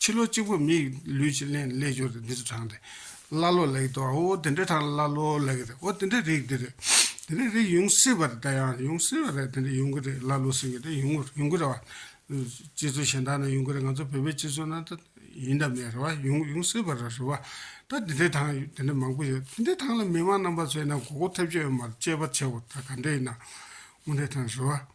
ཕྱི་ལོ་གཅིག་པོ་མིའི་ལུས་ཀྱི་གླེང་ལས་སྦྱོར་ཏེ་འདི་ཚོ་དྲངས་ཏེ། ཀླ་ཀློ་ལེགས་དོ་ཨོ་དེ་འདྲའི་དྲངས་ཀླ་ཀློ་ལེགས་རེད་ཨོ་དེ་འདྲའི་རིགས་འདི་རེད། དེ་འདྲའི་རིགས་ཡོང་སྲིད་པ་རེད་ད་ཡང་ཡོང་སྲིད་པ་རེད་དེ་འདྲ་ཡོང་གི་རེད་ཀླ་ཀློ་ཟེར་གྱི་རེད་ཡོང་གི་ཡོང་གི་རེད་བ། སྤྱི་ཚོགས་གཞན་དག་ན་ཡོང་གི་རེད་ང་ཚོ་བོད་པའི་སྤྱི་ཚོགས་ན་ད་ཡིན་དང་མེད་རེད་བ་ཡོང་ཡོང་སྲིད་པ་རེད་རེད་བ། ད་དེ་འདྲའི་དྲངས་དེ་འདྲ་མང་པོ་ཡོད་དེ་འདྲའི་དྲངས་ལ་མི་མང་རྣམ་པ་ཚོས་ན་གོ་གོ་ཐེབས་ཀྱི་ཡོད་མ་རེད་དཔྱད་པ་བྱེད་འོ་ད་ག་འདྲས་ཡིན་ན། དངོས་འབྲེལ་དྲངས་རེད་བ།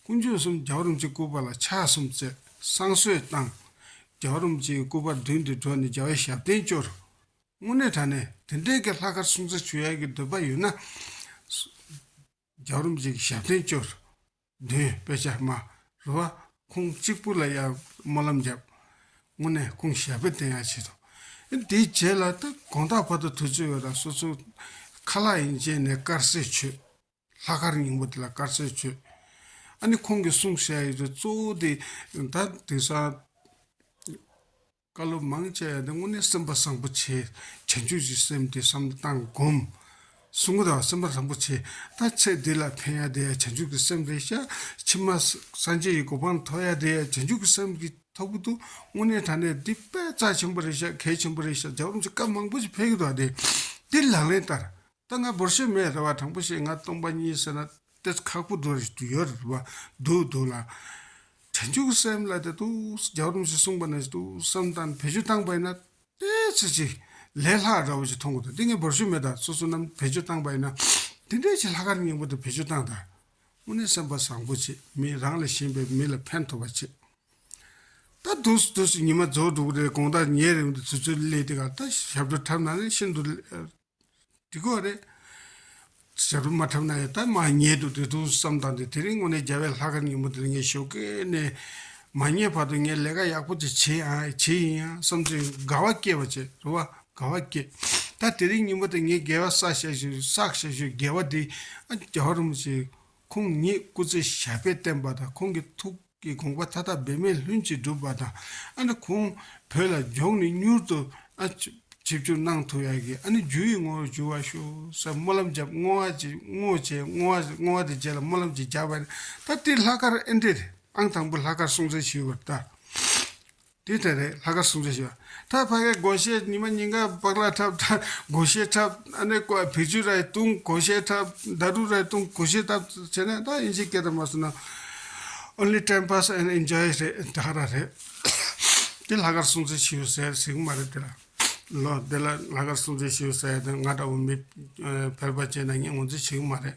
སྐུ་མཆོག་གསུམ་རྒྱ་བ་རུམ་ཅིག་སྐུ་པར་ལ་ཕྱག་གསུམ་བསྩལ། བསང་གསོལ་བཏང། རྒྱ་བ་རུམ་ཅིག་སྐུ་པར་མདུན་དུ་འགྲོ་ནས་རྒྱལ་བའི་ཞབས་བརྟན་བཅོལ། དངོས་གནས་དྲ་ནས་དེ་འབྲེལ་གྱི་ལྷག་དཀར་སྲུང་བརྩི་ཞུ་ཡག་གི་འདོད་པ་ཡོད་ན། རྒྱ་བ་རུམ་ཅིག་ཞབས་བརྟན་བཅོལ། འདོན་སྤེལ་བྱ། མ་རུ་བ་ཁོང་གཅིག་པུ་ལ་ཡང་སྨོན་ལམ་བརྒྱབ། དངོས་གནས་ཁོང་ཞལ་འབོད་བསྟན་ཡག་བྱེད་དོ། དེའི་རྗེས་ལ་དགོངས་དག་བར་དུ་ཐུགས་རྩོད་ཡོད་ལ་སོ་སོ། ཁ་ལག་ཡིན་བཅས་ནས་དཀར་གསས་མཆོད། ལྷག་དཀར་སྙིང་པོ་དེ་ལ་དཀར་ཆའི་ཆོས། ཨ་ནི་ཁོང་གིས་གསུངས་བཤད་ཡོད་དེ་གཙོ་བོ་དེ། ད་དེང་སང། བཀའ་སློབ་མང་སྤྱད་ཡོད་དེ་དངོས་གནས་སེམས་པ་བཟང་པོ་ཆེ། བྱང་ཆུབ་ཀྱི་སེམས་དེ་བསམ་གཏན་བསྒོམ། གསུང་གི་དང་སེམས་པ་བཟང་པོ་ཆེ། ད་ཚེ་འདི་ལ་ཕན་ཡ་དེ་བྱང་ཆུབ་ཀྱི་སེམས་རེད་ཤག། ཕྱི་མ་སངས་རྒྱས་ཀྱི་གོ་འཕང་ཐོབ་ཡ་དེ་བྱང་ཆུབ་ཀྱི་སེམས་ཀྱི་ཐོབ་གི་འདུག་དངོས་གནས་དྲ་གནས་འདི་དཔེ་རྩ་ཆེན་པོ་རེད་ཤག་གལ་ཆེན་པོ་རེད་ཤག་རྒྱ་གྲོམ་གྱི་སྐབས་མང་པོ་ཞིག་འཕེལ་གི་འདུག་ཨ་དེ་དེ་ལག་ལེན་བསྟར། ད་ང་འབོར་ཆེན་མེད་རེད་བ་དང་པོ་ཞིག་ང་སྟོང་པ་གཉིས་ཟེར་ན་སྟེ་ཁག་པོ་འགྲོ་རེ་ཡོད་རེད་བ་འདུག་འདུག་ལ། བྱང་ཆུབ་སེམས་ལ་དེ་ཏུ་རྒྱག་རུང་ཞེས་གསུངས་པ་ནས་ཏུ་བསམ་དང་བེད་སྤྱོད་བཏང་པས་ན། དེ་ཚེ་ཅིག་ལས་ལྷག་འདྲ་བོ་ཞིག་མཐོང་གོ་ད་འདི་ངས་འབོར་ཆེན་མེད་ད་སོ་སོ་རྣམས་བེད་སྤྱོད་བཏང་པས་ན། དེ་འདྲའི་ཆེ་ལྷག་གར་སྙིང་པོ་དེ་བེད་སྤྱོད་བཏང་ད། དངོས་གནས་སེམས་པ་བཟང་པོ་བྱེད་མི་རང་ལས་གཞན་པའི་མི་ལ་ཕན་ཐོག་པ་བྱེད། ད་དུ་སུ་དུས་སུ་ཉི་མ་རྫོགས་འགྲོ་གི་རེད་དགོངས་དག་ཉལ་རེ་འདི་ཚོད་ཚོད་ལས་དེ་ག་ད་ཞབས་བྲོ་འཁྲབ་ན་ནི་ཤིན་ཏུ། འདི་ཀོ་རེད། ཞབས་རུ་མ་འཁྲབ་ན་ཡང་ད་མ་ཉལ་དུ་དེ་ཐུགས་བསམ་བཏང་སྟེ་དེ་རིང་དངོས་གནས་རྒྱ་བལ་ལྷ་ཁང་ཉིན་མོ་འདིར་ངས་ཞོགས་ཀའི་ནས་མ་ཉལ་བར་དུ་ངས་ལས་ཀ་ཡག་པོ་ཅིག་བྱེད་ཨ་བྱེད་ཡིན་ཡང་བསམ་ཚེ་དགའ་བ་སྐྱེས་པ་བྱེད་རེད་བ་དགའ་བ་སྐྱེས། ད་དེ་རིང་ཉིན་མོ་དེ་ངས་རྒྱལ་བ་བསགས་བཞག་ཞུ་བསགས་བཞག་ཞུ་རྒྱལ་བ་འདི་ཨ་རྒྱལ་བ་རུ་མི་བྱེད། ཁོང་ཉིད་སྐུ་ཚེ་ཞབས་པད་བརྟན་པ་དང་ཁོང་གི་ཐུགས། གི་དགོངས་པ་མཐའ་དག་འབད་མེད་ལྷུན་གྱིས་འགྲུབ་པ་དང་ཨ་ནི་ཁོང་བོད་ལ་མགྱོགས་ནས་མྱུར་དུ་ཨ་ཆིབས་བསྒྱུར་གནང་ཐུབ་ཡག་གི་ཨ་ནི་རྒྱུ་ཡི་ངོ་བོར་གྱུར་བ་ཤོ་ས་སྨོན་ལམ་བརྒྱབ་བསྔོ་བ་བྱས་བསྔོ་བྱས་བསྔོ་བ་བསྔོ་བ་དེ་རྗེས་ལ་སྨོན་ལམ་གྱི་རྒྱ་བལ་ད་ལྟའི་ལྷག་དཀར་ཨེ་འདྲེས་ཨང་དང་པོ་ལྷག་དཀར་སྲོང་བཙན་ཞུས་པར་ལྟ། དེ་ལྟར་རེད་ལྷ་དཀར་སུམ་བརྒྱ་ཞོ། ཐར་ཕ་གའི་དགོན་བཤད་ཉི་མ་ཉིན་དགའ་སྦག་ལ་འཁྲབ་ཐར་དགོན་བཤད་འཁྲབ་ཨ་ནེ་ཀོ་ཨ་བེ་ཆུ་རའི་དུང་དགོན་བཤད་འཁྲབ་མདའ་གྲུ་རའི་དུང་དགོན་བཤད་འཁྲབ་བྱས་ན་ད་དབྱིན་ཇིའི་སྐད་དང་མ་སོ་ན། Only time pass and enjoy རེད་དེ་ཧ་ར་རེད། དེ་ལྷ་དཀར་སུམ་བརྒྱ་ཞོ་ཟེར་ཟེར་གྱི་མ་རེད་དེ་ལ། ལོ་དེ་ལ་ལྷ་དཀར་སུམ་བརྒྱ་ཞོ་ཟེར་ཡ་དེ་ང་འདྲ་བོ་མི་ཕལ་པ་བྱས་ན་ངས་ངོ་འཛིན་བྱེད་ཀྱི་མ་རེད།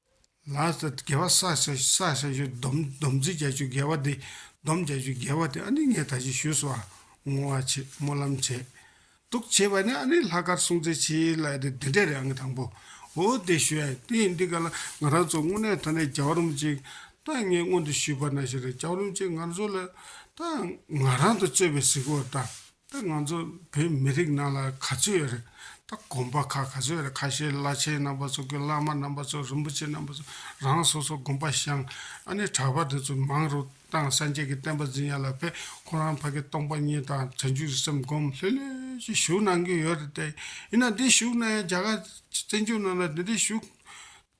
ལ་སྟེ་དགེ་བ་བསགས་བྱ་བསགས་བྱ་ཞུ་སྡོམ་སྡོམ་བྱེད་བྱ་ཞུ་དགེ་བ་དེ་སྡོམ་བྱ་ཞུ་དགེ་བ་དེ་ཨ་ནི་ངས་ད་ཅི་ཞུས་སོ་ཨ་ངོ་བ་བྱེད་སྨོན་ལམ་བྱེད་དུག་བྱེད་པ་ནི་ཨ་ནི་ལྷ་དཀར་སྲུང་བརྩེ་ཆེ་ལ་ཨ་དེ་དེ་འདྲས་རེད་ཨ་ངས་དང་པོ་འོ་དེ་ཞུ་ཨ་དེ་ཡིན་དེ་ག་ལ་ང་རང་ཚོ་དངོས་གནས་ད་ནས་རྒྱ་རོམ་ཅིག་ད་ངས་སྔོན་དུ་ཞུས་པ་ན་ཞེ་རེ་རྒྱ་རོམ་ཅིག་ང་ཚོ་ལ་ད་ང་རང་དང་རྩོད་པའི་གཟིགས་བོ་ད། ད་ང་ཚོ་བོད་མི་རིགས་ནང་ལ་ག་ཚོད་ཡོད་རེད། ད་དགོན་པ་ཁག་ག་ཚོད་ཡོད་རེད་ཁ་ཤས་བླ་ཆེན་རྣམ་པ་ཚོ་དགེ་བླ་མ་རྣམ་པ་ཚོ་རིན་པོ་ཆེ་རྣམ་པ་ཚོ་རང་སོ་སོ་དགོན་པ་ཤང་ཨ་ནེ་གྲགས་པ་དེ་ཚོ་མང་རུ་བཏང་སངས་རྒྱས་ཀྱི་བསྟན་པ་འཛིན་ཡ་ལ་ཕེ་ཁོང་རང་ཕ་གི་སྟོང་པ་ཉིད་དང་བྱང་ཆུབ་ཀྱི་སེམས་སྒོམ་ལྷོད་ལྷོད་ཀྱི་བཞུགས་གནང་གི་ཡོད་རེད་དེ་ཡིན་ན་འདི་བཞུགས་ན་ཡང་རྒྱ་གར་བཙན་བྱོལ་ནང་ལ་འདི་འདྲའི་བཞུགས་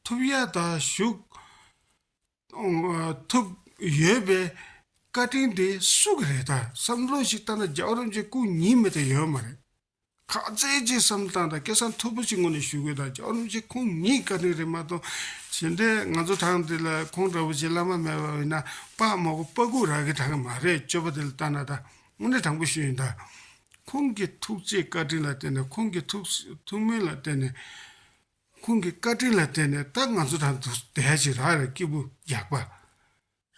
ཐུབ་ཡ་ད་བཞུགས། ཐུབ་ཡོད་པའི་བཀའ་དྲིན་དེ་སུ་གི་རེད་ད་བསམ་བློ་ཞིག་བཏང་ན་རྒྱ་གོ་རིམ་བཅས་སྐུ་ཉིད་མེད་ད་ཡོད་མ་རེད། ཁག་བཙལ་གྱིས་བསམ་བློ་བཏང་ད་སྐད་གསང་མཐོ་པོ་ཞིག་ངོ་ནས་ཞུ་དགོས་ད་རྒྱ་གོ་རིམ་བཅས་ཁོང་ཉིད་ཀྱི་བཀའ་དྲིན་རེད་མ་གཏོགས་གཞན་དེ་ང་ཚོ་དྲང་འདི་ལ་ཁོང་འདྲ་བོ་ཆེ་བླ་མ་མེད་པ་ཡིན་ན་དཔའ་མ་གོ་དཔའ་སྐུ་རག་གི་དྲང་གི་མ་རེད་སྤྱོད་པ་དེ་ལ་བལྟ་ན་ད་དངོས་གནས་དྲང་པོ་ཞུ་ཡིན་ད། ཁོང་གི་ཐུགས་རྗེ་བཀའ་དྲིན་ལ་བརྟེན་ནས་ཁོང་གི་ཐུགས་སྨོན་ལ་བརྟེན་ནས། ཁོང་གི་བཀའ་དྲིན་ལ་བརྟེན་ནས་ད་ང་ཚོ་དང་དུ་བསྡད་ཅིག་རག་ལ་སྐྱིད་པོ་རྒྱག་པ།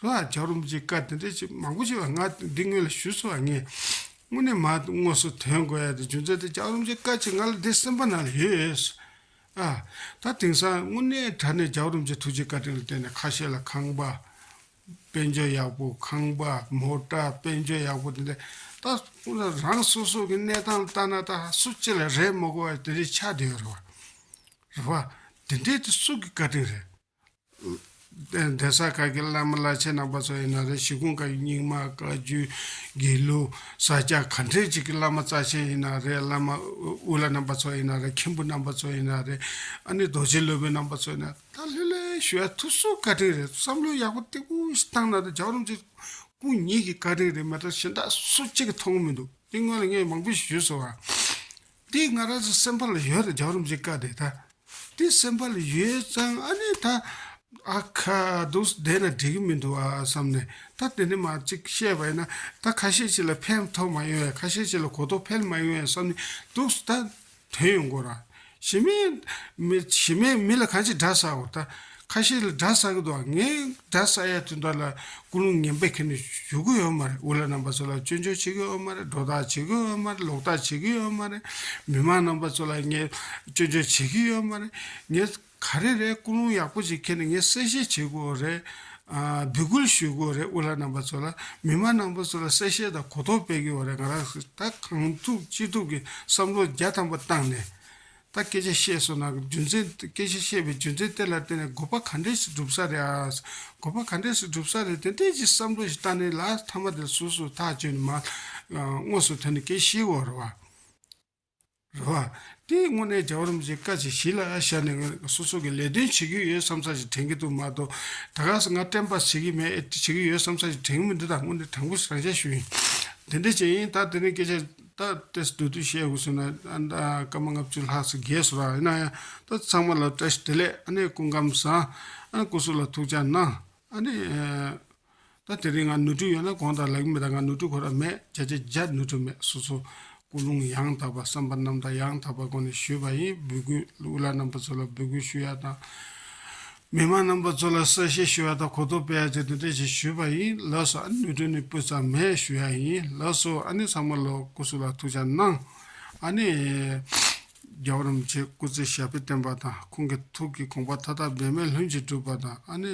ལྷོ་ཨ་ཇག་རུམ་གྱི་བཀའ་དེ་འདྲ་ཅིག་མང་པོ་ཞིག་ལ་ང་འདི་སྔོན་ལ་ཞུས་སོང་བ་ངས་དངོས་ནས་མ་དངོས་སུ་དོན་གོ་ཡ་དེ་རྒྱུ་མཚན་དེ་ཇག་རུམ་གྱི་བཀའ་ཅིག་ང་ལ་འདི་སེམས་པ་ན་ལ་ཡོད། ཨ། ད་དེང་སང་དངོས་གནས་དྲ་གནས་ཇག་རུམ་གྱི་ཐུགས་རྗེ་བཀའ་དྲིན་ལ་བརྟེན་ནས་ཁ་ཤས་ལ་ཁང་པ། དཔལ་འབྱོར་ཡག་པོ་ཁང་པ་མོ་བཀྲ་དཔལ་འབྱོར་ཡག་པོ་དེ་འདྲ་ད་རང་སོ་སོ་གི་གནས་སྟངས་ལྟ་ན་ད་སུ་ཅི་ལ་རེད་མ་གོ་བ་དེ་འདྲའི་ཆ་དེ་ཡོད་རེད་བ། རེད་བ། དེ་འདྲའི་དེ་སུ་གི་བཀའ་དྲིན་རེད། གདན་ས་ཁག་གི་བླ་མ་བླ་ཆེན་རྣམ་པ་ཚོ་ཡིན་ན་རེད་ཞི་ཁོང་ཁག་གི་རྙིང་མ་བཀའ་བརྒྱུད་དགེ་ལུགས་ས་སྐྱ་ག་འདྲའི་ཅིག་གི་བླ་མ་རྩ་ཆེན་ཡིན་ན་རེད་བླ་མ་དབུ་བླ་རྣམ་པ་ཚོ་ཡིན་ན་རེད་མཁན་པོ་རྣམ་པ་ཚོ་ཡིན་ན་རེད་ཨ་ནི་རྡོ་རྗེ་སློབ་དཔོན་རྣམ་པ་ཚོ་ཡིན་ན། ད་ལྷོད་ལྷོད་ཞུ་ཡ་ཐུབ་སུ་བཀའ་དྲིན་རེད་བསམ་བློ་ཡག་པོ་སྟེགས་བུ་ཞིག་བཏང་ན་ད་ཇག་རུམ་ཚོས་སྐུ་ཉིད་ཀྱི་བཀའ་དྲིན་རེད་མ་ད་གཞན་དག་སུ་གཅིག་གི་མཐོང་མི་འདུག་དེ་སྔོན་ལ་ངས་མང་པོ་ཞིག་ཞུས་སོང་ཨ། དེ་ང་རང་ཚོའི་སེམས་པ་ལ་ཡོད་ད་ཇག་རུམ་ཚོའི་བཀའ་དེ་ད། དེ་སེམས་པ་ལ་ཡོད་ཙང་ཨ་ནི་ད། ཨ་ཁ་སྡུག་ས་བསྡད་ན་འགྲིག་གི་མི་འདུག་ཨ་བསམ་ནས་ད་དེ་འདྲ་མ་གཅིག་བཤད་པ་ཡིན་ན་ད་ཁ་ཤས་ཅིག་ལ་ཕན་ཐོགས་མ་ཡོང་ཡ་ཁ་ཤས་ཅིག་ལ་གོ་རྟོགས་འཕེལ་མ་ཡོང་ཡ་བསམ་ནས་འདུག་སུ་ད། དོན་ཡོད་འགོ་ར། ཞི་མེ། མི། ཞི་མེ་མི་ལ་གང་ཅི་འདྲ་ཟ་འོ་ད། ཁ་ཤེ་ལ་འདྲ་ཟ་གི་འདུག་ཨ་ངས་འདྲ་ཟ་ཡ་དུས་འདྲ་ལ་ཀུ་ལུང་ངན་པས་ཁེ་ནི་ཞུ་གི་ཡོད་མ་རེད་འུ་ལ་རྣམ་པ་ཚོ་ལ་སྐྱོན་བརྗོད་བྱེད་གི་ཡོད་མ་རེད་སྒྲོ་བཏགས་བྱེད་གི་ཡོད་མ་རེད་ལོག་ལྟ་བྱེད་གི་ཡོད་མ་རེད། མི་མང་རྣམ་པ་ཚོ་ལ་ངས་སྐྱོན་བརྗོད་བྱེད་གི་ཡོད་མ་རེད། ངས། ག་རེ་རེད་སྐུ་རླུང་ཡག་པོ་ཞིག་ཁྱེར་ནས་ངས་གསལ་བཤད་བྱེད་དགོས་པ་རེད། འབོད་སྐུལ་ཞུས་དགོས་པ་རེད་དབུ་ལྷ་རྣམ་པ་ཚོ་ལ། མི་དམངས་རྣམ་པ་ཚོ་ལ་གསལ་བཤད་དང་གོ་རྟོགས་སྤེལ་དགོས་པ་རེད་ང་རང་ད་གང་ཐུབ་ཅི་ཐུབ་ཀྱི་བསམ་བློ་རྒྱ་ཐམ་པ་བཏང་ནས་ད་སྐད་ཆ་བཤད་སོང་ན་རྒྱུ་མཚན་སྐད་ཆ་བཤད་པའི་རྒྱུ་མཚན་དེ་ལ་བརྟེན་ནས་དགོས་པ་ག་འདྲས་ཞིག་འགྲུབ་ས་རེད་ཨ། དགོས་པ་ག་འདྲས་ཞིག་འགྲུབ་ས་རེད་དེ་འདྲས་ཀྱི་བསམ་བློ་ཞིག་བཏང་ནས་ལ་མཐའ་མ་དེ་ལ་སུ་སུ་ཐག་གཅོད་ནས་མ་དངོས་སུ་ཐོན་ནས་སྐད་བཤད་དགོས་པ་རེད། རེད། དེའི་དངོས་གནས་བྱ་བ་རིམ་བཞིན་བཀའ་ཅི་བཞེས་ལ་བཞག་ནས་སོ་སོ་གི་ལས་དོན་བྱེད་ཀྱི་ཡོད་བསམ་ས་ཞིག་དྲན་གྱི་འདུག་མ་གཏོགས་ད་ག་ཟེ་ང་བཀྲེན་པ་བྱེད་ཀྱི་མེད་བྱེད་ཀྱི་ཡོད་བསམ་ས་ཞིག་དྲན་གྱི་མེད་འདི་དག་དངོས་གནས་དྲང་པོ་རང་བྱས་ཞུ་ཡིན། དེ་འདྲའི་བྱས་ཡིན་ད་དེ་རིང་སྐད་ཆ་ད་སྟེ་སྡོད་དུས་བཤད་དགོས་ཟེར་ན་ད་སྐར་མ་ལྔ་བཅུ་ལྷག་ཟིག་རྒས་སོ་ར་ཡིན་ན་ཡང་ད་ཚང་མ་ལ་བཀྲ་ཤིས་བདེ་ལེགས་ཨ་ནེ་སྐུ་ཁམས་བཟང་ཨ་ནེ་སྐུ་གཟུགས་ལ་ཐུགས་བཅག་གནང་ཨ་ནེ། ད་དེ་རིང་ང་ནུས་མཐུ་ཡོད་ན་གང་དང་ལག་མི་དང་ང་ནུས་མཐུ་ཁོ་ན་མེད་བྱས་རྗེས་བརྒྱ་ནུས་མཐུ་མེད་སོ་སོ་ཀུན་སློང་ཡང་དག་པ་བསམ་པ་རྣམ་དག་ཡང་དག་པ་སྒོ་ནས་ཞུས་པ་ཡིན་འབུལ་སྐུལ་གླུ་བླ་རྣམ་པ་ཚོ་ལ་འབུལ་སྐུལ་ཞུ་ཡ་དང། མི་མང་རྣམ་པ་ཚོ་ལ་གསལ་བཤད་ཞུ་ཡ་དང་གོ་རྟོགས་སྤེལ་ཡ་བཅས་དོན་ཕྲན་ཞིག་ཞུས་པ་ཡིན་ལགས་སོ་ཨ་ནི་ནུས་མཐུ་ནི་སྤུས་ཙམ་མེད་ཞུ་ཡ་ཡིན་ལགས་སོ་ཨ་ནི་ཚང་མ་ལོ་སྐུ་སུ་ལ་ཐུགས་ཅག་གནང་ཨ་ནི། རྒྱལ་བ་རིན་པོ་ཆེ་སྐུ་ཚེ་ཞབས་པད་བརྟན་པ་དང་ཁོང་གི་ཐུགས་ཀྱི་དགོངས་པ་མཐའ་དག་འབད་མེད་ལྷུན་གྱིས་འགྲུབ་པ་དང་ཨ་ནི།